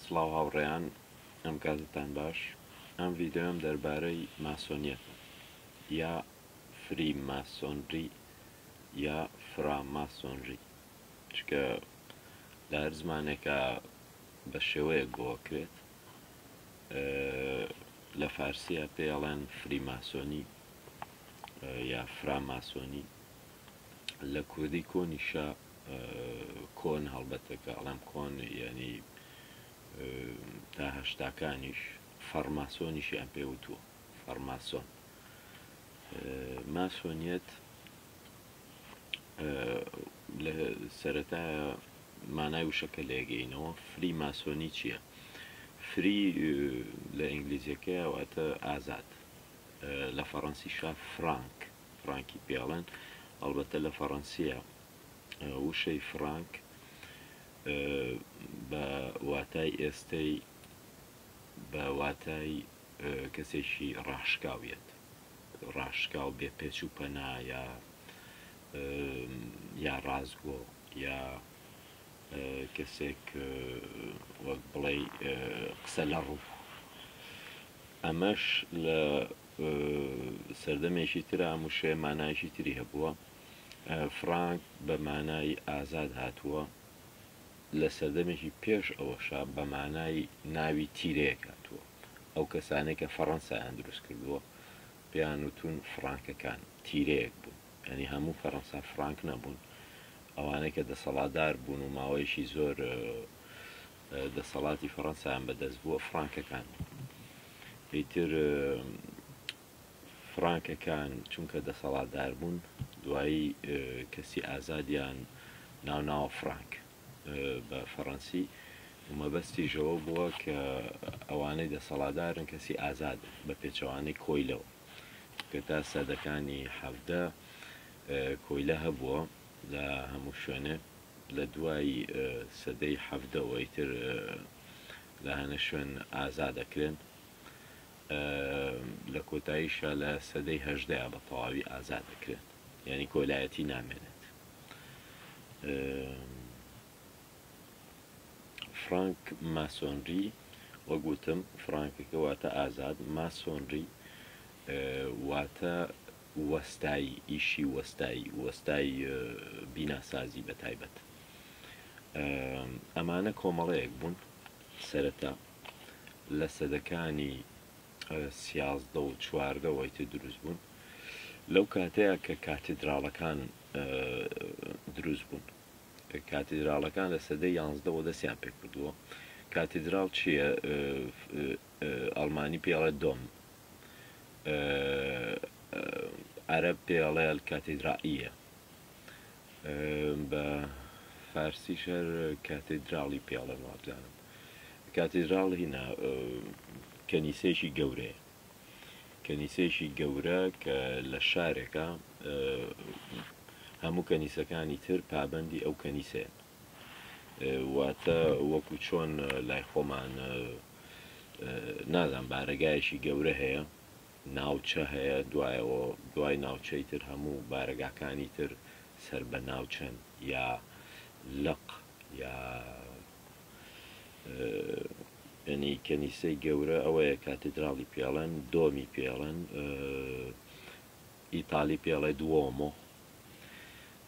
سڵاو هاوڕێیان ئەم کاتتان باش ئەم ڤیدیۆیەم دەربارەی ماسۆنیەتە یا فری ماسۆنری یا فرا ماسۆنری چکە لە هەر زمانێکە بە شێوەیەک بۆکرێت لە فارسیە پێ ئەڵێن فری ماسۆنی یا فرا ماسۆنی لە کوردی کۆنیشە کۆن هەڵبەتە کە ئەڵێم کۆن یانی تا هەشتاکانیش فەرماسۆنیشیان پێوتووە فەرماسۆن ماسۆنیەت لە سەرەتا مانای وشەکە لێگەینەوە فری ماسۆنی چییە؟ فری لە ئینگلیزیەکەی واتە ئازاد لە فەڕەنسی شا فرانک فڕانکی پێ ئەڵێن، ئەڵبەتە لە فەڕەنسییە وشەی فڕانک بە واتای ئێستەی بە واتای کەسێکی ڕاشکاو یەت، ڕاشکاو بێ پێچ و پەنا یا یا ڕاستگۆ یا کەسێک وەک بڵێ قسە لە ڕوو ئەمەش لە سەردەمێکی ترە، ئەم وشەیە مانایەکی تری هەبووە. فرانک بە مانای ئازاد هاتووە، لە سەردەمێکی پێش ئەوەشا بە مانای ناوی تیرەیەک هاتووە. ئەو کەسانەی کە فەڕەنسایان دروست کردووە، پێیان وتوون فرانکەکان، تیرەیەک بوون. یانی هەموو فەڕەنسا فرانک نەبوون. ئەوانەی کە دەسەڵاتدار بوون و ماوەیەکی زۆر دەسەڵاتی فەڕەنسایان بەدەست بووە فڕانکەکان ئیتر فڕانکەکان چونکە دەسەڵاتدار بوون دوایی کەسی ئازادیان ناوناوە فڕانک بە فەڕەنسی ومەبەستی ژەوە بووە کە ئەوانەی دەسەڵادارن کەسی ئازاد بە پێچەوانەی کۆیلەوە کە تا سەدەکانی حەفدە کۆیلە هەبووە لە هەموو شوێنێ لە دوای سەدەی حەڤدەوە ئیتر لە هەنە شوێن ئازا دەکرێن، لە کۆتاییشا لە سەدەی هەژدەیا بە تەواوی ئازا دەکرێن، یانی کۆیلایەتی نامێنێت. فرانک ماسۆنری، وەک وتم فرانکەکە واتە ئازاد، ماسۆنری واتە وەستای ئیشی وەستای وەستای بیناسازی بەتایبەت ئەمانە کۆمەڵەیەک بوون سەرەتا لە سەدەکانی سیازدە و چواردەوەی تێ دروست بوون لەو کاتەیە کە کاتیدراڵەکان دروست بوون کاتیدراڵەکان لە سەدە یانزدەوە دەستیان پێ کردووە کاتیدراڵ چییە ئەڵمانی پێی ئەڵێ دۆم، عەرەب پێی ئەڵێ الکاتیدرائیە، بە فارسیش هەر کاتیدراڵی پێی ئەڵێن وابزانم. کاتیدراڵ هینا کەنیسەیەکی گەورەیە. کەنیسەیەکی گەورە کە لە شارێکە هەموو کەنیسەکانی تر پابەندی ئەو کەنیسەیە. واتە وەکو چۆن لای خۆمان نازان بارەگایەکی گەورە هەیە ناوچە هەیە دوایەوە دوای ناوچەی تر هەموو بارەگاکانی تر سەر بە ناوچەن یا لق یا ینی کەنیسەی گەورە ئەوەیە کاتیدراڵی پێڵەن دۆمی پێڵەن ئیتالی پێڵێ دووەمۆ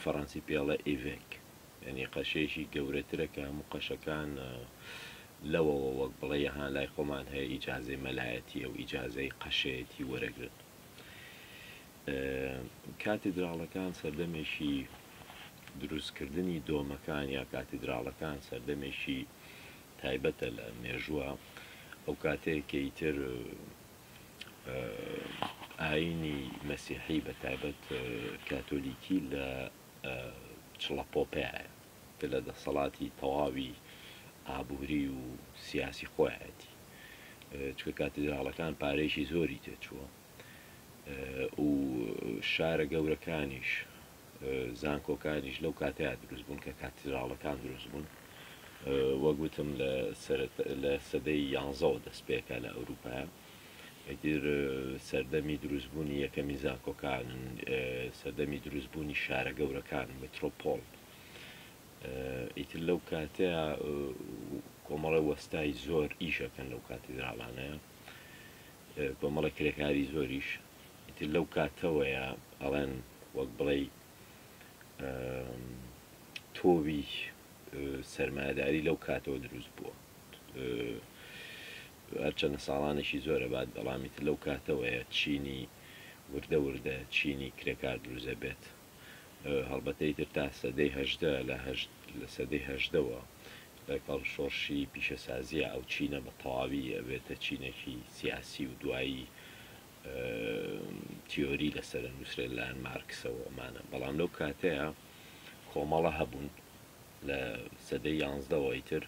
فەڕەنسی پێڵێ ئیڤێک یعنی قەشەیەکی گەورەترە کە هەموو قەشەکان لەوەوە وەک بڵێ یەها لای خۆمان هەیە ئیجاازەی مەلایەتی ئەو ئیجاازەی قەشەیەتی وەرەگرن کاتیدراڵەکان سەردەمێکی دروستکردنی دۆمەکان یا کاتیدراڵەکان سەردەمێکی تایبەتە لە مێژووە ئەو کاتێکیتر ئایینی مەسیحی بە تایبەت کاتۆلیکی لە چڵەپۆپیایە کە لە دەسەڵاتی تەواوی ئابووری و سیاسی خۆیایەتی چکە کاتیدراڵەکان پارێکی زۆری تێچووە و شارە گەورەکانیش زانکۆکانیش لەو کاتەیا دروست بوون کە کاتیدراڵەکان دروست بوون. وەک وتم لە سەرەت لە سەدەی یانزەوە دەست پێکا لە ئەوروپایا. ئیتر سەردەمی دروست بوونی یەکەمی زانکۆکانن، سەردەمی دروست بوونی شارە گەورەکان، میترۆپۆل. ئیتر لەو کاتەیا کۆمەڵە وەستای زۆر ئیش ئەکەن لەو کاتیدراڵانەیا. کۆمەڵە کرێکاری زۆریش ئیتر لەو کاتەوەیە ئەڵێن وەک بڵێی تۆوی سەرمایەداری لەو کاتەوە دروست بووە هەرچەندە ساڵانێکی زۆرە بات بەڵامیتر لەو کاتەوەیە چینی وردە وردە چینی کرێکار دروزە بێت هەڵبەتە ئیتر تا سەدەی هەژدە لە هەشت لە سەدەی هەژدەوە لەگەڵ شۆڕشی پیشەسازییە ئەو چینە بە تەواوی ئەبێتە چینێکی سیاسی و دوایی تیۆری لەسەر ئەنووسرێت لەلایەن مارکسەوە ئەمانە بەڵام لەو کاتەیە کۆمەڵە هەبوون لە سەدەی یانزدەوە ئیتر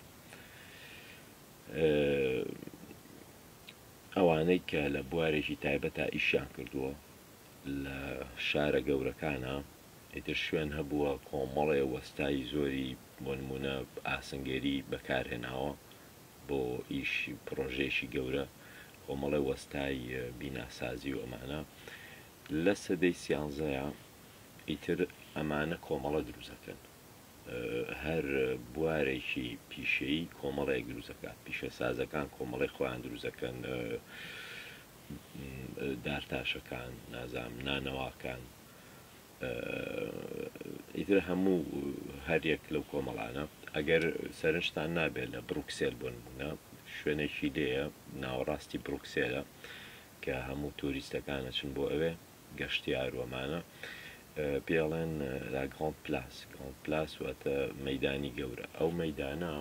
ئەوانەی کە لە بوارێکی تایبەتە ئیشیان کردووە لە شارە گەورەکانا ئیتر شوێن هەبووە کۆمەڵێ وەستای زۆری بۆ نموونە ئاسنگەری بەکار هێناوە بۆ ئیش پڕۆژەیەکی گەورە کۆمەڵێ وەستای بیناسازی و ئەمانە لە سەدەی سیانزەیە ئیتر ئەمانە کۆمەڵە دروزەکەن هەر بوارێکی پیشەی کۆمەڵێک دروزەکە پیشە سازەکان کۆمەڵی خۆیان دروزەکەن دارتاشەکان نازام نانەواکان ئیتر هەموو هەریەک لەو کۆمەڵانە ئەگەر سەرنجتان نابێت لە بروکسێل بۆ نمونە شوێنێکی لێە ناوەڕاستی بروکسێلە کە هەموو توریستەکانە چن بۆ ئەوێ گەشتیار وەمانە پێڵێن لا گران پلاس گران پلاس واتە مەدانی گەورە ئەو مەدانە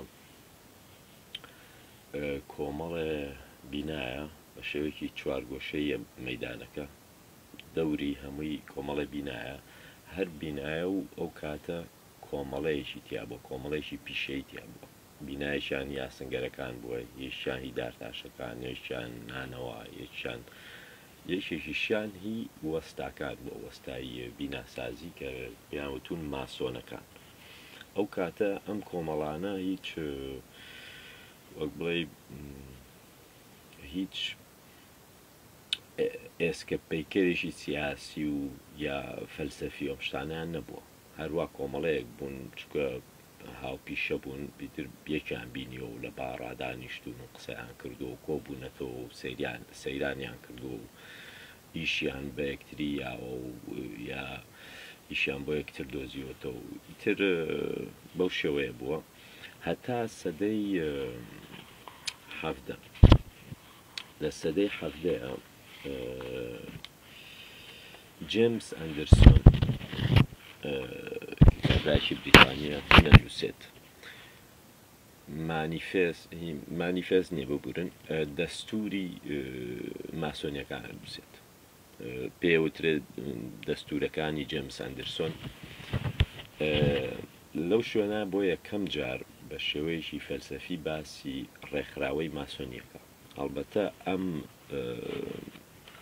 کۆمەڵێ بینایە بە شێوەیەکی چوارگۆشەییە مەیدانەکە، دەوری هەمووی کۆمەڵێ بینایە، هەر بینایە و ئەو کاتە کۆمەڵەیەکی تیا بووە، کۆمەڵەیەکی پیشەیی تیا بووە، بینایەکیان هی ئاسنگەرەکان بووە، یەکیان هی دارتاشەکان، یەکیان نانەوا، یەکیان، یەکێکیشیان هی وەستاکان بووە، وەستاییە بیناسازی کە پێیان وتوون ماسۆنەکان. ئەو کاتە ئەم کۆمەڵانە هیچ وەک بڵێی هیچ ئێسکە پەیکەرێکی سیاسی و یا فەلسەفی ئەم شتانیان نەبووە هەروە کۆمەڵەیەک بوون چکە هاوپیشە بوون بیتر یەکیان بینیەوە و لە باڕادانیشتون و قسەیان کردو و کۆبوونەتەوە و سریان سەیرانیان کردو و ئیشیان بە یەکتری یاوە و یا ئیشیان بۆ یەکتر دۆزیوەتەوە و ئیتر بەو شێوەیە بووە. هەتا سەدەی حەڤدە. لە سەدەی حەڤدەیا جێمس ئەندرسۆن کتابدارێکی بریتانییە دەنووسێت مانیفێست مانیفێست نییە ببورن دەستووری ماسۆنییەکان دەنووسێت. پێوترێت دەستورەکانی جێمس ئەندرسۆن لەو شوێنە بۆ یەکەم جار بە شێوەیەکی فەلسەفی باسی ڕێکخراوەی ماسۆنیەکە هەڵبەتە ئەم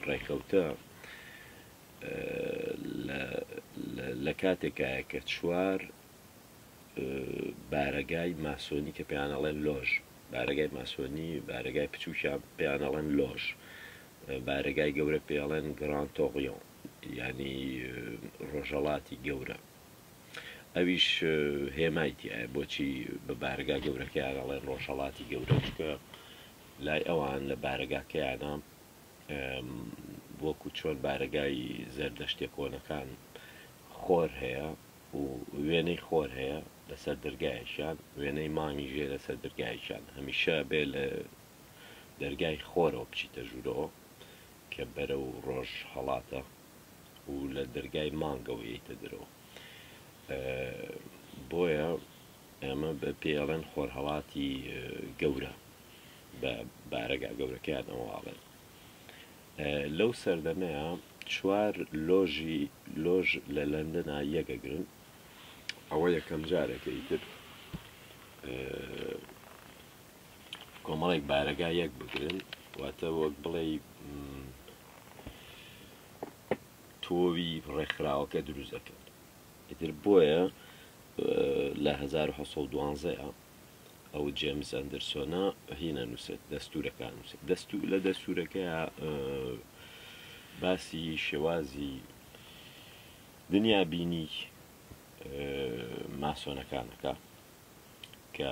ڕێکەوتە لە کاتێکایە کە چوار بارەگای ماسۆنی کە پێیان ئەڵێن لۆژ، بارەگای ماسۆنی، بارەگای بچووکیان پێیان ئەڵێن لۆژ، بارەگای گەورە پێڵێن گران تۆڕیۆن، ینی ڕۆژەڵاتی گەورە. ئەویش هێمای تایە بۆچی بە بارەگا گەورەکەیان ئەڵێن ڕۆژەڵاتی گەورە، چونکە لای ئەوان لە بارەگاکەیانە وەکوو چۆن بارەگای زەردەشتییە کۆنەکان خۆر هەیە، و وێنەی خۆر هەیە لەسەر دەرگایەکیان وێنەی مانگی ژێ لەسەر دەرگایەکیان هەمیشە بێ لە دەرگای خۆرەوە بچیتە ژوورەوە کە بەرە و ڕۆژ هەڵاتە و لە دەرگای مانگەوە یتە درەوە بۆیە ئەمە بە پێڵێن خۆرهڵاتی گەورە بە بارەگا گەورەکەیان ئەوواڵێن لەو سەردەمەیا چوار لۆژی لۆژ لە لەندەنا یەگەگرن ئەوە یەکەم جارەکە ئیتر کۆمەڵێک بارەگا یەک بگرن واتە وەک بڵێ تۆوی ڕێکخراوەکە دروست دەکەن ئیتر بۆیە لە 1970 ئەو جێمس ئەندرسۆنە هی نەنووسێت دەستورەکان نووسێت دەست لە دەستورەکە باسی شێوازی دنیا بینی ماسۆنەکانەکە کە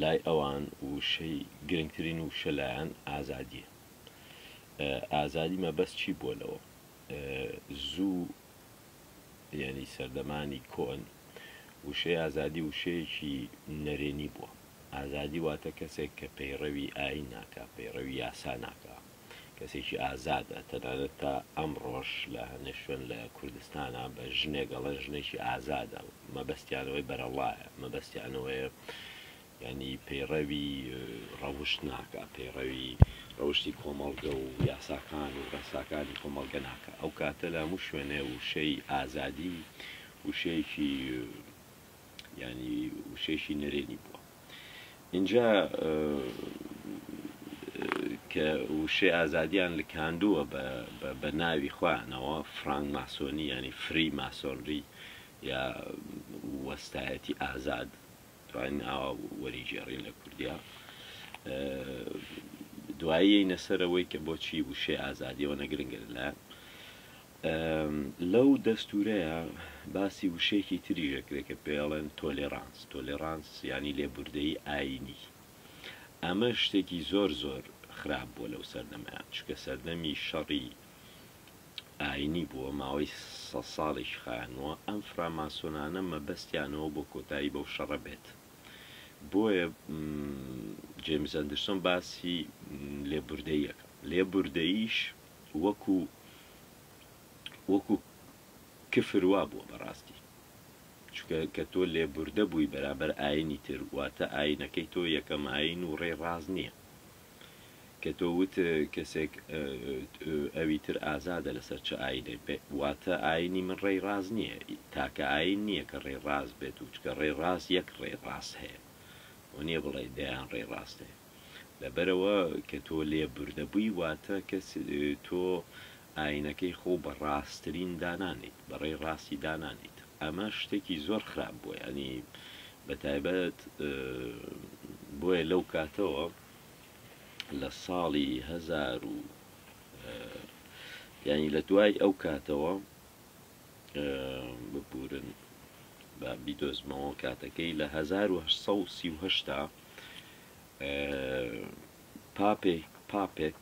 لای ئەوان وشەی گرنگترین وشە لایەن ئازادیە ئازادی مەبەست چی بووە لەوە زوو یانی سەردەمانی کۆن وشەی ئازادی وشەیەکی نەرێنی بووە. ئازادی واتە کەسێک کە پەیڕەوی ئایین ناکا، پەیڕەوی یاسا ناکا، کەسێکی ئازادە. تەنانەت تا ئەمڕۆش لە هەنێ شوێن لە کوردستانا بە ژنێک ئەڵێن ژنێکی ئازادە و مەبەستیان ئەوەی بەرەڵڵایە، مەبەستیان ئەوەیە یانی پەیڕەوی ڕەوشت ناکا، پەیڕەوی ڕەوشتی کۆمەڵگە و یاساکان و ڕێساکانی کۆمەڵگە ناکا، ئەو کاتە لە هەموو شوێنێ وشەی ئازادی وشەیەکی یانی وشەیەکی نەرێنی بووە. ئینجا کە وشەی ئازادیان لکاندووە بە ناوی خۆیانەوە فرانگ ماسۆنی یانی فری ماسۆنری یا وەستایەتی ئازاد توانین ئاوا وەریگێڕین لە کوردیا دوایی نەسەرەوەی کە بۆچی وشەی ئازادیەوە نەگرنگە لە لەو دەستورەیە باسی وشەیەکی تری ژەکرێک کە پێڵێن تۆلێرانس تۆلێرانس ینی لێبوردەی ئاینی ئەمە شتێکی زۆر زۆر خراپ بووە لەو سەردەمە چکە سەردەمی شەڕی ئاینی بووە ماوەی سەد ساڵێکی خایاندووە، ئەم فراماسۆنانە مەبەستیانەوە بۆ کۆتایی بەو شەڕە بێت بۆیە جەیمس ئەندرسۆن باسی لێبوردەییەکە لێبوردەییش وەکو وەکو کفر وا بووە بەڕاستی چکە کە تۆ لێبوردە بووی بەرامبەر ئاینی تر واتە ئاینەکەی تۆ یەکەم ئاین و ڕێ ڕاز نییە کە تۆ وت کەسێک ئەوی تر ئازادە لەسەر چ ئایینێک بێت، واتە ئایینی من ڕێی ڕاست نییە، تاکە ئایین نییە کە ڕێی ڕاست بێت و چکە ڕێی ڕاست یەک ڕێی ڕاست هەیە و نییە بڵێی دەیان ڕێی ڕاست هەیە. لەبەرئەوە کە تۆ لێبوردەبووی واتە کەس تۆ ئاینەکەی خۆو بە ڕاسترین دانانێیت بەڕێی ڕاستی دانانێیت ئەمە شتێکی زۆر خراپ بووە یانی بە تایبەت بۆیە لەو کاتەوە لە ساڵی هەزار و یانی لە دوای ئەو کاتەوە ببورن بە بیدۆزمەوە کاتەکەی لە 1930 پاپێک پاپێک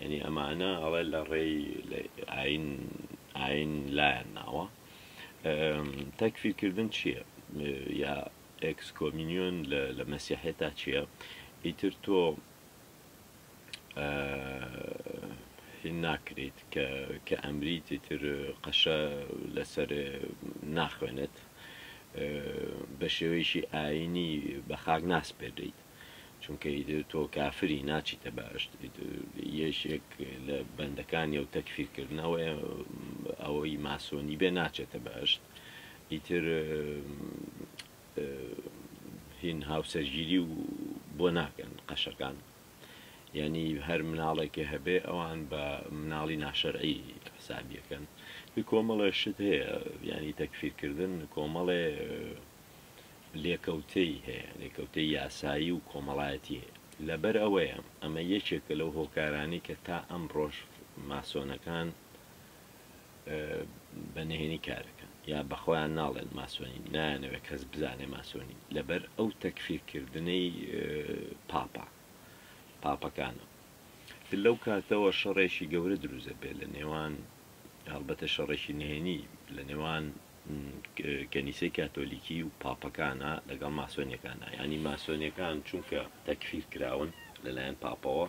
یعنی ئەمانە ئەڵێ لە ڕێی ئاین ئاین لایەن ناوە تەکفیرکردن چییە یا ئەکسکۆمینیۆن لە مەسیحێتا چییە ئیتر تۆ ناکریت کە ئەمریت تر قەشە لەسەر ناخوێنێت بە شێوەیەشی ئاینی بە خاک ناسپێدەیت چونکە ئیدر تۆ کافری ناچیتە بەهەشت ئیدر یەشێک لە بەندەکانی و تەکفیر کردنەوەی ئەوەی ماسۆنی بێ ناچێتە بەهەشت ئیتر هین هاوسەرگیری و بۆ ناکەن قەشەکان یعنی هەر مناڵێکی هەبێ ئەوان بە مناڵی ناشەرعی حسابیەکەن کۆمەڵێ شت هەیە ینی تەکفیرکردن کۆمەڵێ لێکەوتەی هەیە، لێکەوتەی یاسایی و کۆمەڵایەتی هەیە. لەبەر ئەوەیە ئەمە یەکێکە لەو هۆکارانەی کە تا ئەمڕۆش ماسۆنەکان بە نهێنی کارەکەن یا بە خۆیان ناڵێن ماسۆنین، نایانەوێت کەس بزانێ ماسۆنین لەبەر ئەو تەکفیرکردنەی پاپا پاپەکانە. تر لەو کاتەوە شەڕێکی گەورە دروست دەبێت لە نێوان هەڵبەتە شەڕێکی نهێنی لە نێوان کەنیسەی کاتۆلیکی و پاپەکانە لەگەڵ ماسۆنیەکاندا یانی ماسۆنیەکان چونکە تەکفیر کراون لەلایەن پاپەوە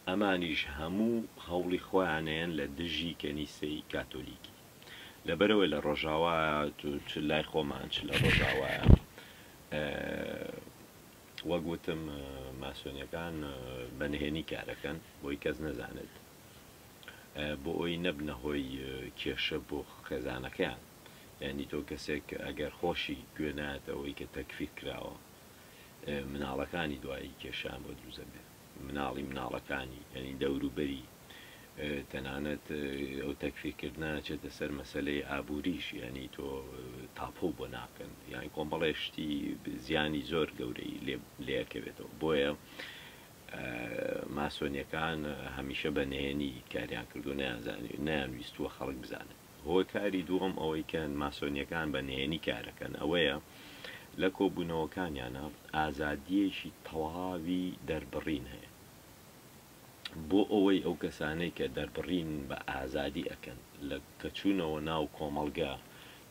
ئەمانیش هەموو هەوڵی خۆیانەیەن لە دژی کەنیسەی کاتۆلیکی لەبەرەوەی لە ڕۆژاوا چ لای خۆمان چ لە ڕۆژاوایە وەگوتم ماسۆنیەکان بەنهێنی کارەکەن بۆی کەس نەزانێت بۆئەوەی نەبنە هۆی کێشە بۆ خێزانەکەیان یانی تۆ کەسێک ئەگەر خۆشی گوێ نایەت ئەوەی کە تەکفیر کراوە مناڵەکانی دوایی کێشان بۆ دروزەبێت مناڵی مناڵەکانی یعنی دەوروبەری تەنانەت ئەو تەکفیکردە چێتە سەر مەسلەی ئابووریش یعنی تۆ تاپۆ بۆ ناکەن یان کۆمەڵێشتی زیانی زۆر گەورەی لێکەوێتەوە بۆیە ماسۆنیەکان هەمیشە بە نهێنی کاریان کردووە نەیانزانیوە نەیانویستووە خەڵک بزانێت. هۆکاری دووەم ئەوەی کە ماسۆنیەکان بە نهێنی کارەکەن ئەوەیە لە کۆبوونەوەکانیانا ئازادیەکی تەواوی دەربڕین هەیە بۆ ئەوەی ئەو کەسانەی کە دەربڕین بە ئازادی ئەکەن لە کە چوونەوە ناو کۆمەڵگە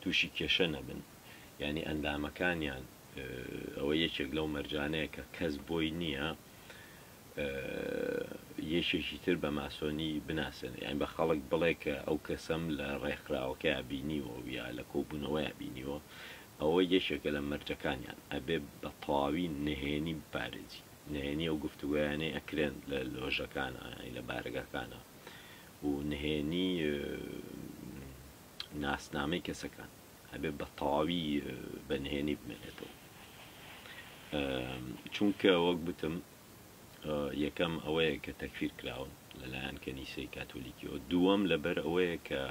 تووشی کێشە نەبن یانی ئەندامەکانیان ئەوە یەکێک لەو مەرجانەیە کە کەس بۆی نییە یەکێکی تر بە ماسۆنی بناسێنێ یان بە خەڵک بڵێ کە ئەو کەسەم لە ڕێکخراوەکەیا بینیوە و یا لە کۆبوونەوەیە بینیوە ئەوە یەکێکە لە مەرجەکانیان ئەبێ بە تەواوی نهێنی بپارێزی نهێنی ئەو گفتوگۆیانەی ئەکرێن لە لۆژەکانە یانی لە بارەگاکانە و نهێنی ناسنامەی کەسەکان ئەبێ بە تەواوی بە نهێنی بمێنێتەوە چونکە وەک بتم یەکەم ئەوەیە کە تەکفیر کراون لەلایەن کەنیسەی کاتۆلیکیەوە دووەم لەبەر ئەوەیە کە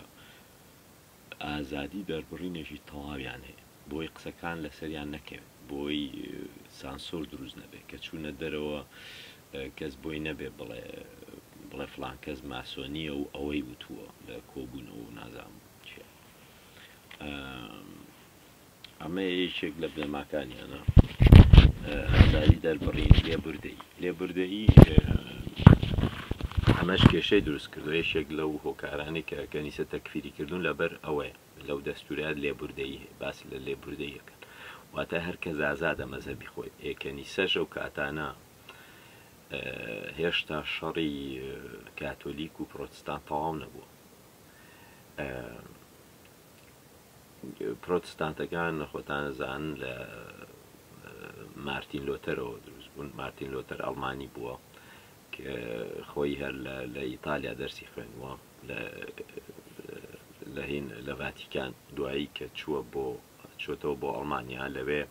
ئازادی دەربڕینێکی تەواویان هەیە بۆی قسەکان لەسەریان نەکەوێت بۆی سانسۆر دروست نەبێت کە چوونە دەرەوە کەس بۆی نەبێ بڵێ بڵێ فلان کەس ماسۆنیە و ئەوەی وتووە لە کۆبوونەوە و نازام چیە ئەمە یەکێک لە بنەماکانیانە ئازاری دەربڕین لێبوردەی لێبوردەیی ئەمەش کێشەی دروست کردو یەکێک لەو هۆکارانی کە کەنیسە تەکفیری کردوون لەبەر ئەوەیە لەو دەستورات لێبوردەیی باس لە لێبوردەیەکەن واتە هەرکە زازادە مەزەبی خۆی ئێکەنیسەش و کاتانە هێشتا شەڕی کاتۆلیک و پرۆتستان تەواو نەبووە پرۆتستانتەکان خۆتانەزان لە مارتین لۆتەرەوە دروست بوون مارتین لۆتەر ئەڵمانی بووە کە خۆی هەر لە ئیتالیا دەرسی خوێندووە لە هین لە ڤاتیکان دوایی کە چووە بۆ چۆتەوە بۆ ئەڵمانیا لەوێ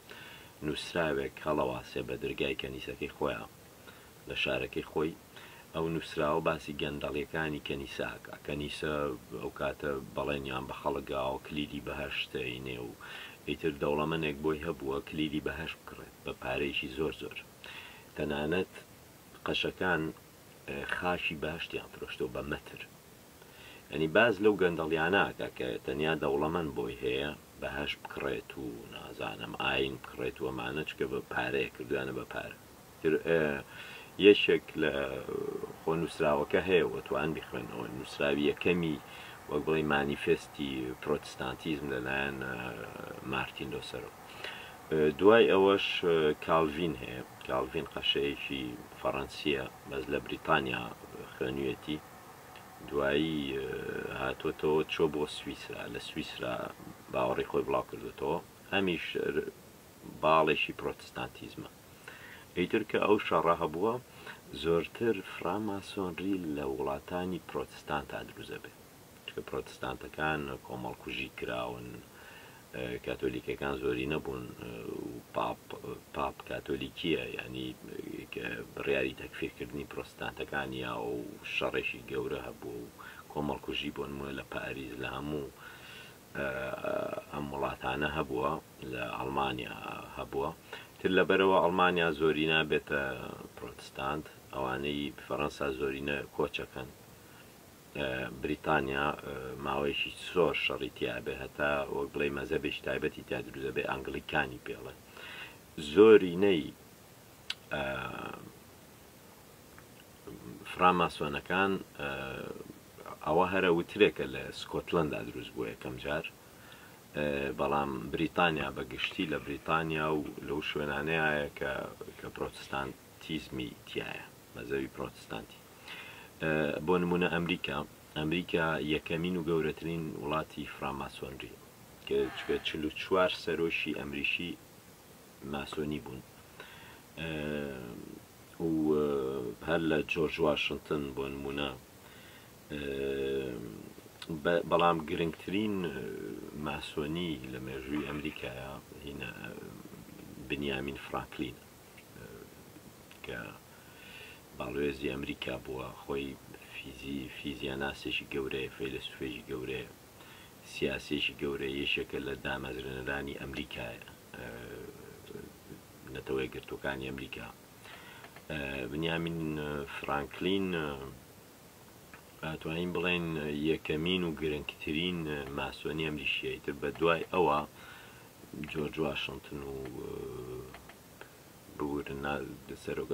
نووسراوێک هەڵەواسێ بە درگای کەنیسەکەی خۆیان لە شارەکەی خۆی ئەو نووسراوە باسی گەندەڵیەکانی کەنیساکە کەنیسە ئەو کاتە بەڵێنیان بە خەڵکگاوە کلیلی بەهەشت ئەینێ و ئیتر دەوڵەمەنێک بۆی هەبووە کلیلی بەهەشت بکڕێت بە پارەیەکی زۆر زۆر تەنانەت قەشەکان خاکی باشتیان فرۆشتۆ بە مەتر ئەنی باز لەو گەندەڵیاناکە کە تەنیا دەوڵەمەند بۆی هەیە بەهش بکڕێت و نازانم ئاین بکڕێت وەمانە چکە بە پارەیە کردوانە بە پارە یەکێک لە خۆ نووسراوەکە هەیە و توان بیخوێنەوە، نووسراوی یەکەمی وەک بڵێی مانیفێستی پرۆتستانتیزم لەلایەن مارتین لۆسەرۆ. دوای ئەوەش کالڤین هەیە، کالڤین قەشەیەکی فەڕەنسییە بەس لە بریتانیا خوێنویەتی، دوایی هاتۆتەوە چۆ بۆ سویسرا، لە سویسرا باوەڕی خۆی بڵاو کردۆتەوە، ئەمیش باڵێکی پرۆتستانتیزمە. ئیتر کە ئەو شەڕە هەبووە، زۆرتر فراماسۆنری لە وڵاتانی پرۆتستانتا دروست دەبێت، چونکە پرۆتستانتەکان کۆمەڵکوژی کراون، کاتۆلیکەکان زۆرینە بوون و پاپ، پاپ کاتۆلیکییە، یانی بڕیاری تەکفیرکردنی پرۆتستانتەکان نییە و شەڕێکی گەورە هەبووە و کۆمەڵکوژی بۆ نموونە لە پاریس لە هەموو ئەم وڵاتانە هەبووە لە ئەڵمانیا هەبووە تر لەبەرەوە ئەڵمانیا زۆرینە بێتە پرۆتستانت ئەوانەی فەڕەنسا زۆرینە کۆچەکەن بریتانیا ماوەیەکی زۆر شەڕی تیاابێ هەتا وەک بڵێ مەزەبێکی تایبەتی تا دروزە بێ ئەنگلیکانی پێڵێ زۆرینەی فراماسۆنەکان ئەوە هەرە وترێکە لە سکۆتلندا دروست بووە یەکەم جار بەڵام بریتانیا بە گشتی لە بریتانیا و لەو شوێنانەیە کە کە پرۆتستانتیزمی تایە مەزەوی پرۆتستانتی بۆ نمونە ئەمریکا ئەمریکا یەکەمین و گەورەترین وڵاتی فراماسۆنری کە چکە چل و چوار سەرۆکی ئەمریکی ماسۆنی بوون و هەر لە جۆرج واشنتن بۆ نمونە بەڵام گرنگترین ماسۆنی لە مێژووی ئەمریکایە هینە بنیامین فرانکلین کە باڵوێزی ئەمریکا بووە خۆی فیزی فیزیاناسێکی گەورەیە فەیلسوفێکی گەورەیە سیاسیەکی گەورەیە یەکێکە لە دامەزرێنەرانی ئەمریکا نەتەوە یەکگرتوەکانی ئەمریکا بنیامین فرانکلین توانین بڵێن یەکەمین و گرنگترین ماسۆنی ئەمریشیەیتر بە دوای ئەوە جۆرج واشنتن و ببورن سەرۆک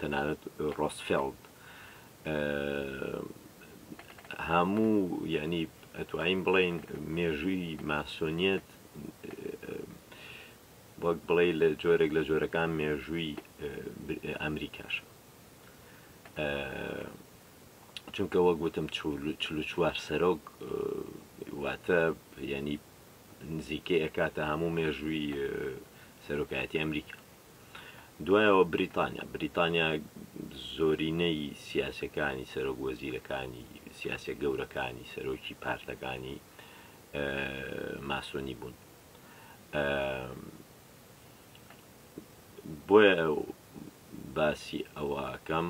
تەنانەت ڕۆسفێڵد هەموو یعنی ئەتوانین بڵین مێژووی ماسۆنیەت وەک بڵێ لە جۆرێک لە جۆرەکان مێژووی ئەمریکاش چونکە وەک وتم چوار سەرۆک واتە ینی نزیکەی ئەکاتە هەموو مێژووی سەرۆکایەتی ئەمریکا دوایەوە بریتانیا بریتانیا زۆرینەی سیاسەکانی سەرۆک وەزیرەکانی سیاسە گەورەکانی سەرۆکی پارتەکانی ماسۆنی بوون بۆیە باسی ئەوەکەم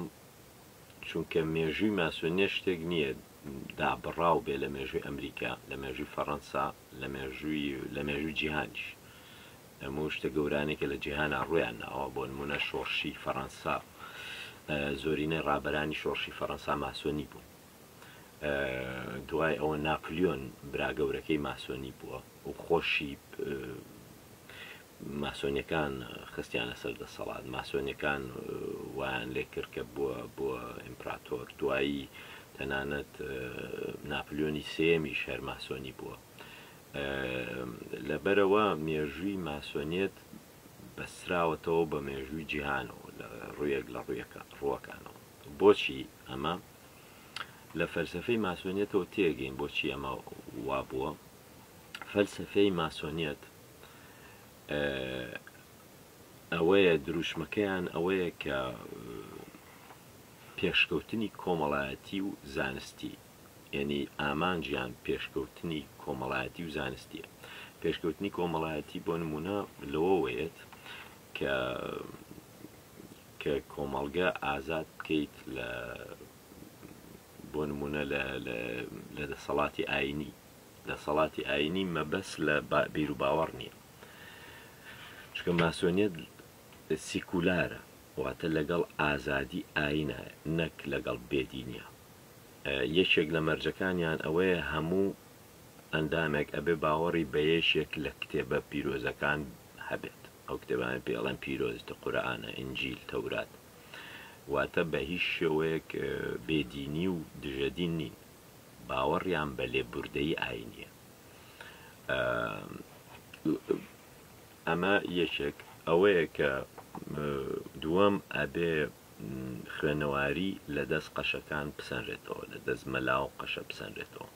چونکە مێژووی ماسۆنیە شتێک نییە دابڕاو بێ لە مێژووی ئەمریکا، لە مێژووی فەڕەنسا، لە مێژووی لە مێژووی جیهانیش. ئەموو شتە گەورانەی کە لە جیهانا ڕوویان ناوە، بۆ نموونە شۆڕشی فەڕەنسا، زۆرینەی ڕابەرانی شۆڕشی فەڕەنسا ماسۆنی بوون. دوای ئەوە ناپلیۆن برا گەورەکەی ماسۆنی بووە و خۆشی ماسۆنیەکان خستیانە سەر دەسەڵات ماسۆنیەکان وایان لێکرد کە بووە بووە ئیمپراتۆر دوایی تەنانەت ناپلیۆنی سێمیش هەر ماسۆنی بووە لەبەرەوە مێژووی ماسۆنیەت بەسراوەتەوە بە مێژووی جیهانەوە لە ڕوویەک لە ڕوویەکە ڕووەکانەوە بۆچی ئەمە لە فەلسفەی ماسۆنیەتەوە تێگەین بۆچی ئەمە وا بووە فەلسفەی ماسۆنیەت ئەوەیە دروشمەکەیان ئەوەیە کە پێشکەوتنی کۆمەڵایەتی و زانستی یعنی ئامانجیان پێشکەوتنی کۆمەڵایەتی و زانستیە پێشکەوتنی کۆمەڵایەتی بۆ نمونە لەوەوەیەت کە کە کۆمەڵگە ئازاد بکەیت لە بۆ نمونە لە دەسەڵاتی ئاینی دەسەڵاتی ئایینی مەبەست لە بیروباوەڕ نییە، چونکە ماسۆنیەت سیکولارە، واتە لەگەڵ ئازادی ئایینە نەک لەگەڵ بێدینیە. یەکێک لە مەرجەکانیان ئەوەیە هەموو ئەندامێک ئەبێ باوەڕی بە یەکێک لە کتێبە پیرۆزەکان هەبێت، ئەو کتێبانەی پێ ئەڵێن پیرۆز، قورئانە، ئینجیل، تەورات. واتە بە هیچ شێوەیەک بێدینی و دژە دین نین. باوەڕیان بە لێبوردەیی ئایینیە ئەمە یەکێک ئەوەیە کە دووەم ئەبێ خوێنەواری لە دەست قەشەکان بسەنرێتەوە لە دەست مەلا و قەشە بسەنرێتەوە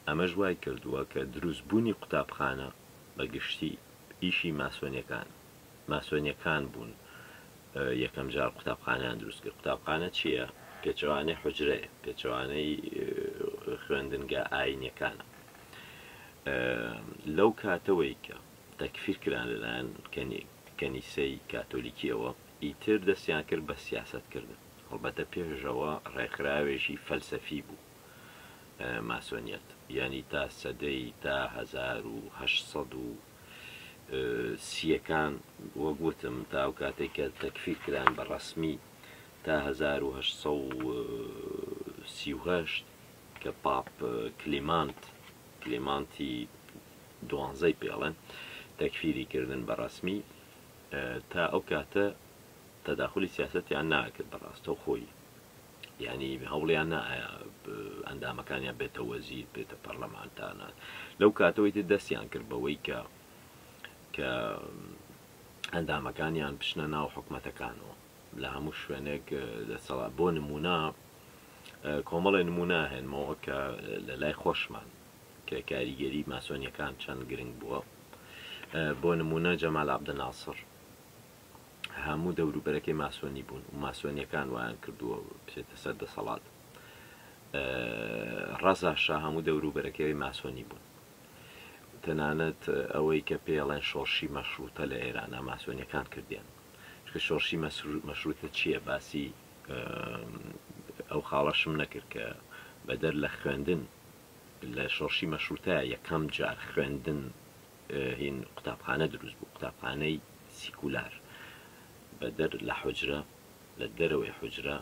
ئەمەش وای کردووە کە دروست بوونی قوتابخانە بە گشتی ئیشی ماسۆنیەکان ماسۆنیەکان بوون یەکەم جار قوتابخانەیان دروست کرد قوتابخانە چیە؟ پێچەوانەی حوجرەیە پێچەوانەی خوێندنگە ئاینەکانە لەو کاتەوەی کە تەکفیر کران لەلایەن کەنیسەی کاتۆلیکیەوە ئیتر دەستیان کرد بە سیاست کردن هەڵبەتە پێشەوە ڕێکخراوێکی فەلسەفی بوو ماسۆنیەت ینی تا سەدەی تا 1970 سییەکان وەک وتم تا ئەو کاتەی کە تەکفیر کران بە ڕەسمی تا هەزار و هەشت سەد و سی و هەشت کە پاپ کلیمانت کلیمانتی دوانزەی پێڵێن تەکفیری کردن بە ڕەسمی تا ئەو کاتە تەداخلی سیاسەتیان ناکرد بەڕاستەو خۆی یانی هەوڵیان نا ئایا ئەندامەکانیان بێتە وەزیر بێتە پەرلەمانتانە لەو کاتەوەی تر دەستیان کرد بەوەی کە کە ئەندامەکانیان بچنە ناو حکومەتەکانەوە لە هەموو شوێنێک دەسەڵا بۆ نمونە کۆمەڵێ نمونە هێنمەوە کە لە لای خۆشمان کە کاریگەری ماسۆنیەکان چەند گرنگ بووە بۆ نمونە جەمال عبدناسر هەموو دەوروبەرەکەی ماسۆنی بوون و ماسۆنیەکان وایان کردووە بچێتە سەر دەسەڵات ڕەزا شا هەموو دەوروبەرەکەی ماسۆنی بوون تەنانەت ئەوەی کە پێڵێن شۆڕشی مەشروتە لە ئێرانە ماسۆنیەکان کردیان چکە شۆڕشی مەشروتە چییە باسی ئەو خاڵەشم نەکرد کە بەدەر لە خوێندن لە شۆڕشی مەشروتە یەکەم جار خوێندن هین قوتابخانە دروست بوو قوتابخانەی سیکولار بەدەر لە حوجرە لە دەرەوەی حوجرە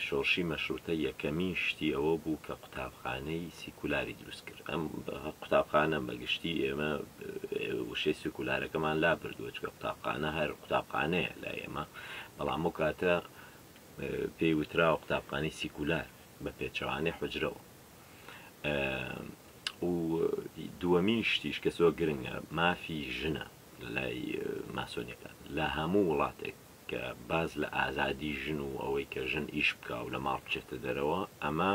شۆڕشی مەشروتە یەکەمین شتی ئەوە بوو کە قوتابخانەی سیکولاری دروست کرد ئەم قوتابخانە بەگشتی ئێمە وشەی سیکولارەکەمان لا بردووە چکە قوتابخانە هەر قوتابخانەیە لە ئێمە بەڵام و کاتە پێی وتراوە قوتابخانی سیکولار بە پێچەوانەی حجرەوە و دووەمین شتیش کە زۆر گرنگە مافی ژنە لای ماسۆنیەکان لە هەموو وڵاتێک کە باز لە ئازادی ژن و ئەوەی کە ژن ئیش بکە و لە ماڵ بچێتە دەرەوە ئەمە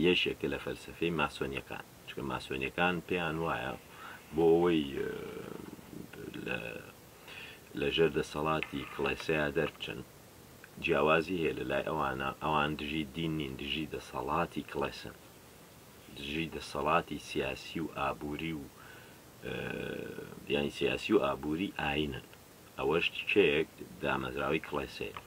یەشێکە لە فەلسفەی ماسۆنیەکان چکە ماسۆنیەکان پێیان وایە بۆ ئەوەی لە ژێر دەسەڵاتی کڵێسەیە دەربچن جیاوازی هەیە لەلای ئەوانە ئەوان دژی دین نین دژی دەسەڵاتی کڵێسن دژی دەسەڵاتی سیاسی و ئابووری و یانی سیاسی و ئابووری ئاینن ئەوەش تکەیەک دامەزراوی کڵێسەیە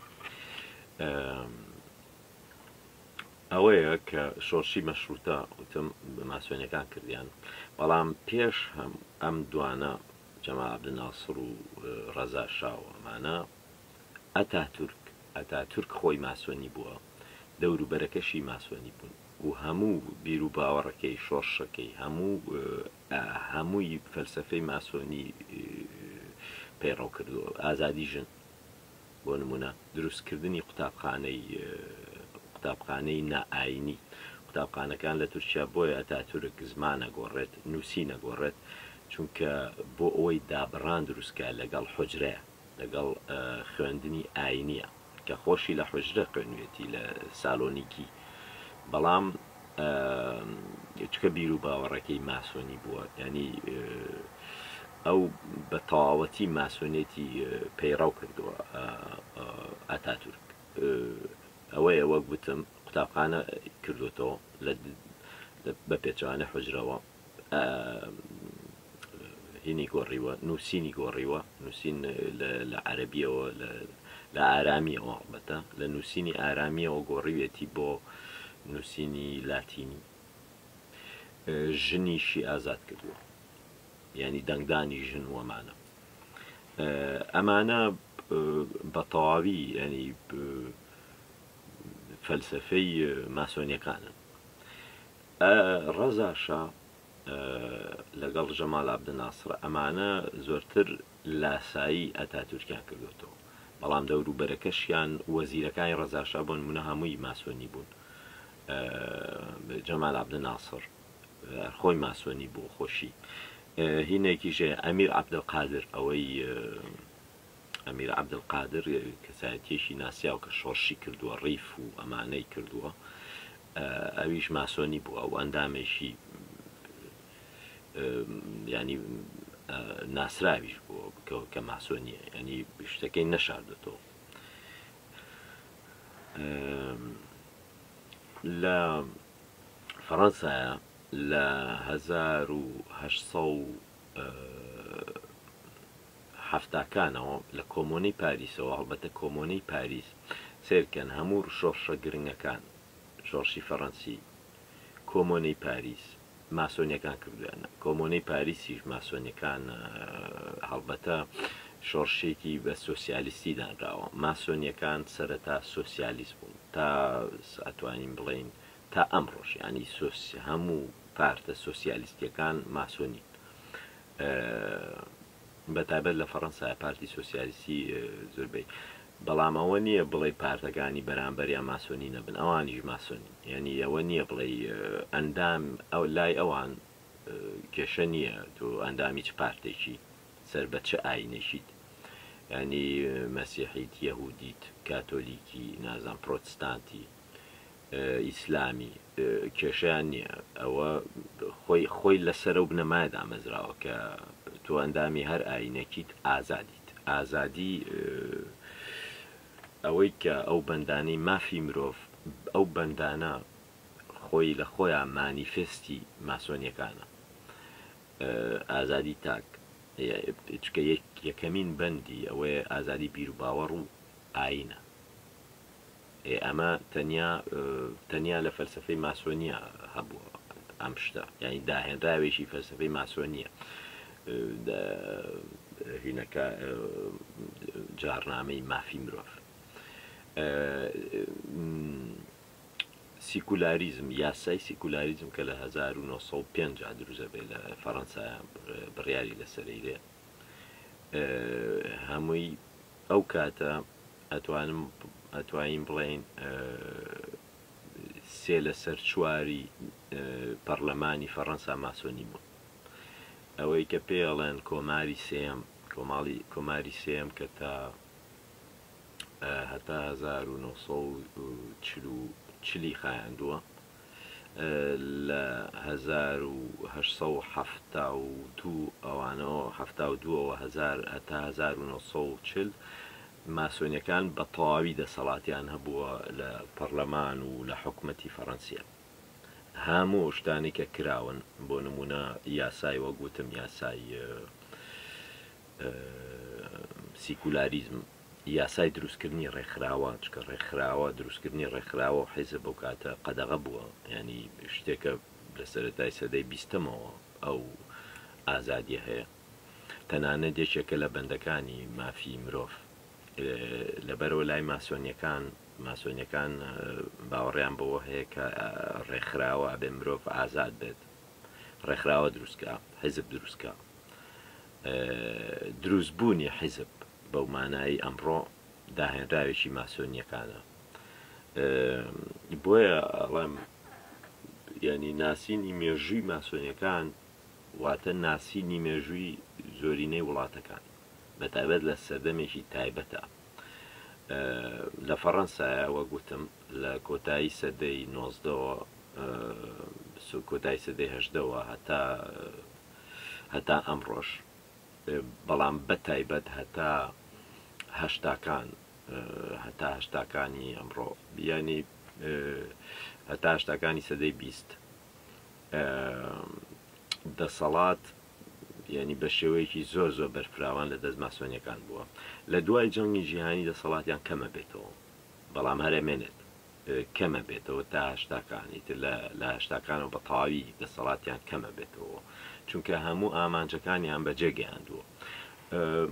ئەوەیە کە شۆرشی مەشروتە وتم بە ماسوێنەکان کردیان بەڵام پێش هەم ئەم دوانە جەما عبدناسر و ڕەزا شاوەمانە ئەتاتورک، ئەتاتورک خۆی ماسۆنی بووە، دەوروبەرەکەشی ماسۆنی بوون و هەموو بیروباوەڕەکەی، شۆڕشەکەی، هەموو هەمووی فەلسەفەی ماسۆنی پەیڕەو کردووە. ئازادی ژن، بۆ نموونە دروستکردنی قوتابخانەی قوتابخانەی نائایینی، قوتابخانەکان لە تورکیا بۆیە ئەتاتورک زمان ئەگۆڕێت، نووسین ئەگۆڕێت، چونکە بۆ ئەوەی دابڕان دروست بکات لەگەڵ حوجرە، لەگەڵ خوێندنی ئاینیە کە خۆشی لە حوجرە خوێنوێتی لە سالۆنیکی بەڵام چکە بیرو باوەڕەکەی ماسۆنی بووە ینی ئەو بە تەواوەتی ماسۆنێتی پەیڕەو کردووە ئاتاتورک ئەوەیە وەک وتم قوتابخانە کردوێتەوە بە پێچوانە حوجرەوە. ینی گۆڕیوە نووسینی گۆڕیوە نووسین لە عەربیەوە لە ئارامیەوە هەڵبەتە لە نووسینی ئارامیەوە گۆڕیوێتی بۆ نووسینی لاتینی ژنیشی ئازاد کردووە ینی دەنگدانی ژن وەمانە ئەمانە بە تەواوی ینی فەلسفەی ماسۆنیەکانن ئە ڕەزا شا ئە لە گەڵ ژەمال عەبدە ناسڕ ئە مانە زۆرتر لاسایی ئە تاتورکیان کردۆتەوە بەڵام دە ورو بەرەکەشیان وە زیرەکانی ڕەزا شا بۆ نمونە هە مووی ماسۆنی بوون ئە بێ جەمال عەبدە ناسڕ هەر خۆی ماسۆنی بوو خۆشی ئە هی نە کیش هە یە ئە میر عەبدە قادر ئە وە ی ئە میر عەبدە قادر کە سایە تیەکی ناسیاو کە شۆڕشی کردووە ڕیف و ئە مانە ی کردووە ئەویش ماسۆنی بووە و ئەندامێکی یانی ناسراویش بووە بکەوە کە ماسۆنیە ینی شتەکەی نەشاردێتەوە لە فەڕەنسایە لە 1970 حەفتاکانەوە لە کۆمۆنەی پاریسەوە هەڵبەتە کۆمۆنەی پاریس سەیرکەن هەموور شۆڕشە گرنگەکان شۆڕشی فەڕەنسی کۆمۆنەی پاریس ماسۆنیەکان کردویانە کۆمۆنەی پاریسیش ماسۆنیەکان هەڵبەتە شۆڕشێکی بە سۆسیالیستی دانراوە ماسۆنیەکان سەرەتا سۆسیالیست بوون تا ئەتوانین بڵین تا ئەم ڕۆژیانی سۆسی هەموو پارتە سۆسیالیستیەکان ماسۆنی بە تایبەت لە فەڕەنسا پارتی سۆسیالیستی زوربەی بەڵام ئەوە نییە بڵێ پارتەکانی بەرامبەر یا ماسۆنی نەبن ئەوانیش ماسۆنی یعنی ئەوە نییە بڵێ ئەندام ئەو لای ئەوان کێشە نییە تۆ ئەندامی چ پارتێکی سەر بە چ ئاینێکیت ینی مەسیحیت یەهودیت کاتۆلیکی نازان پرۆتستانتی ئیسلامی کێشەیان نییە ئەوە خۆی خۆی لەسەر ئەو بنەمایە دامەزراوە کە تۆ ئەندامی هەر ئاینەکیت ئازادیت ئازادی ئەوەی کە ئەو بەندانەی مافی مرۆڤ ئەو بەندانە خۆی لە خۆیان مانیفستی ماسۆنیەکانە ئازادی تاک چکە یەکەمین بەندی ئەوەیە ئازادی بیر و باوەڕ و ئاینە ئێ ئەمە تەنیا تەنیا لە فەلسەفەی ماسۆنیە هەبووە ئەم شتە یعنی داهێنراوێکی فەلسەفەی ماسۆنیە هینەکە جارنامەی مافی مرۆڤ سیکولاریزم یاسای سیکولاریزم کە لە 1950 دروزە بێ لە فەەنسا بڕیاری لەسەرەیرێ هەمووی ئەو کاتە ئەتوانم ئەتوانین بڵێین سێ لە سەر چواری پەڕلەمانی فەڕەنسا ماسۆنی بوون. ئەوەی کە پێ ئەڵێن کۆماری سێم کۆماڵی کۆماری سێم کە تا هەتا 1940 چلی خایاندووە لە هەزار و هەشت سەد و حەفتا و دوو ەوانەوە، حەفتا و دوو ەوە هەزار، هەتا هەزار و نۆ سەد و چل، ماسۆنیەکان بە تەواوی دەسەڵاتیان هەبووە لە پەڕلەمان و لە حکومەتی فەڕەنسیە. هەموو ئەو شتانەی کە کراون، بۆ نموونە یاسای وەک وتم یاسای سیکولاریزم، یاسای دروستکردنی ڕێکخراوە، چونکە ڕێکخراوە، دروستکردنی ڕێکخراوە و حیزب ئەو کاتە قەدەغە بووە، یانی شتێکە لە سەرەتای سەدەی بیستەمەوە ئەو ئازادییە هەیە، تەنانەت یەکێکە لە بەندەکانی مافی مرۆڤ، لەبەرئەوە لای ماسۆنییەکان، ماسۆنییەکان باوەڕیان بەوە هەیە کە ڕێکخراوە ئەبێ مرۆڤ ئازاد بێت، ڕێکخراوە دروست بکە، حیزب دروست بکە، دروستبوونی حیزب، بەو مانایەی ئەمڕۆ داهێنراوێکی ماسۆنییەکانە. بۆیە ئەڵێم یانی ناسینی مێژووی ماسۆنیەکان واتە ناسینی مێژووی زۆرینەی وڵاتەکان بە تایبەت لە سەردەمێکی تایبەتە لە فەڕەنسایە وە گوتم لە کۆتایی سەدەی نۆزدەوە کۆتای سەدەی هەشدەوە هەتا هەتا ئەم ڕۆژ بەڵام بە تایبەت هەتا هەشتاکان هەتا هەشتاکانی ئەمڕۆ یانی هەتا هەشتاکانی سەدەی بیست دەسەڵات یعنی بە شێوەیەکی زۆر زۆر بەرفراوان لە دەست ماسۆنیەکان بووە لە دوای جەنگی جیهانی دەسەڵاتیان کەمە بێتەوە بەڵام هەرەمێنێت کەمەبێتەوە تا هەشتاکان ئیتر لە لە هەشتاکانەوە بە تەواوی دەسەڵاتیان کەمەبێتەوە چونکە هەموو ئامانجەکانیان بەجێ گەیاندووە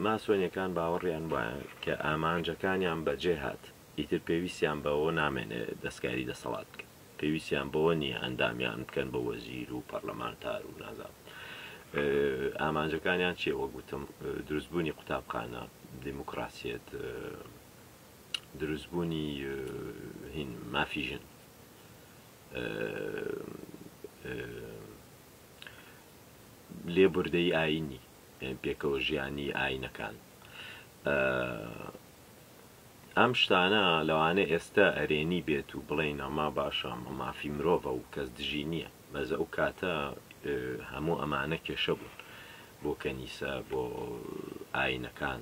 ماسۆنیەکان باوەڕیان وایە کە ئامانجەکانیان بەجێ هات ئیتر پێویستیان بەوە نامێنێ دەستکاری دەسەڵات بکەن پێویستیان بەوە نییە ئەندامیان بکەن بە وەزیر و پەرلەمانتار و نازام ئامانجەکانیان چیە وەگوتم دروستبوونی قوتابخانە دیموکراسیەت دروستبوونی هین مافی ژن لێبوردەی ئاینی پێکەوە ژیانی ئاینەکان ئەم شتانە لەوانە ئێستا ئەرێنی بێت و بڵین ئەما باشە ئەمە مافی مرۆڤە و کەس دژی نییە بەزە ئەو کاتە هەموو ئەمانە کێشە بوون بۆ کەنیسە بۆ ئاینەکان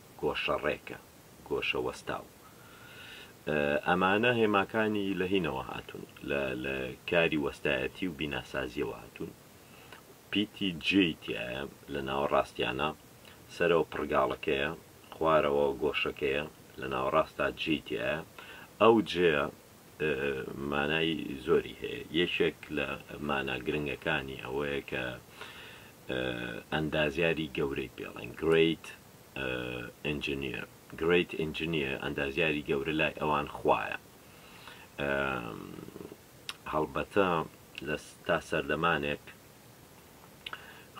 گۆشەڕێکە، گۆشە وەستاو. ئەمانە هێماکانی لە هینەوە هاتوون، لە لە کاری وەستایەتی و بیناسازییەوە هاتوون. پیتی جێی تیایە، لە ناوەڕاستیانە، سەرەوە پڕگاڵەکەیە، خوارەوە گۆشەکەیە، لە ناوەڕاستا جێی تیایە. ئەو جێیە مانای زۆری هەیە، یەکێک لە مانا گرنگەکانی ئەوەیە کە ئەندازیاری گەورەی پێڵێن، Great Engineer، Great Engineer، ئەندازیاری گەورە لای ئەوان خوایە، هەڵبەتە تا سەردەمانێک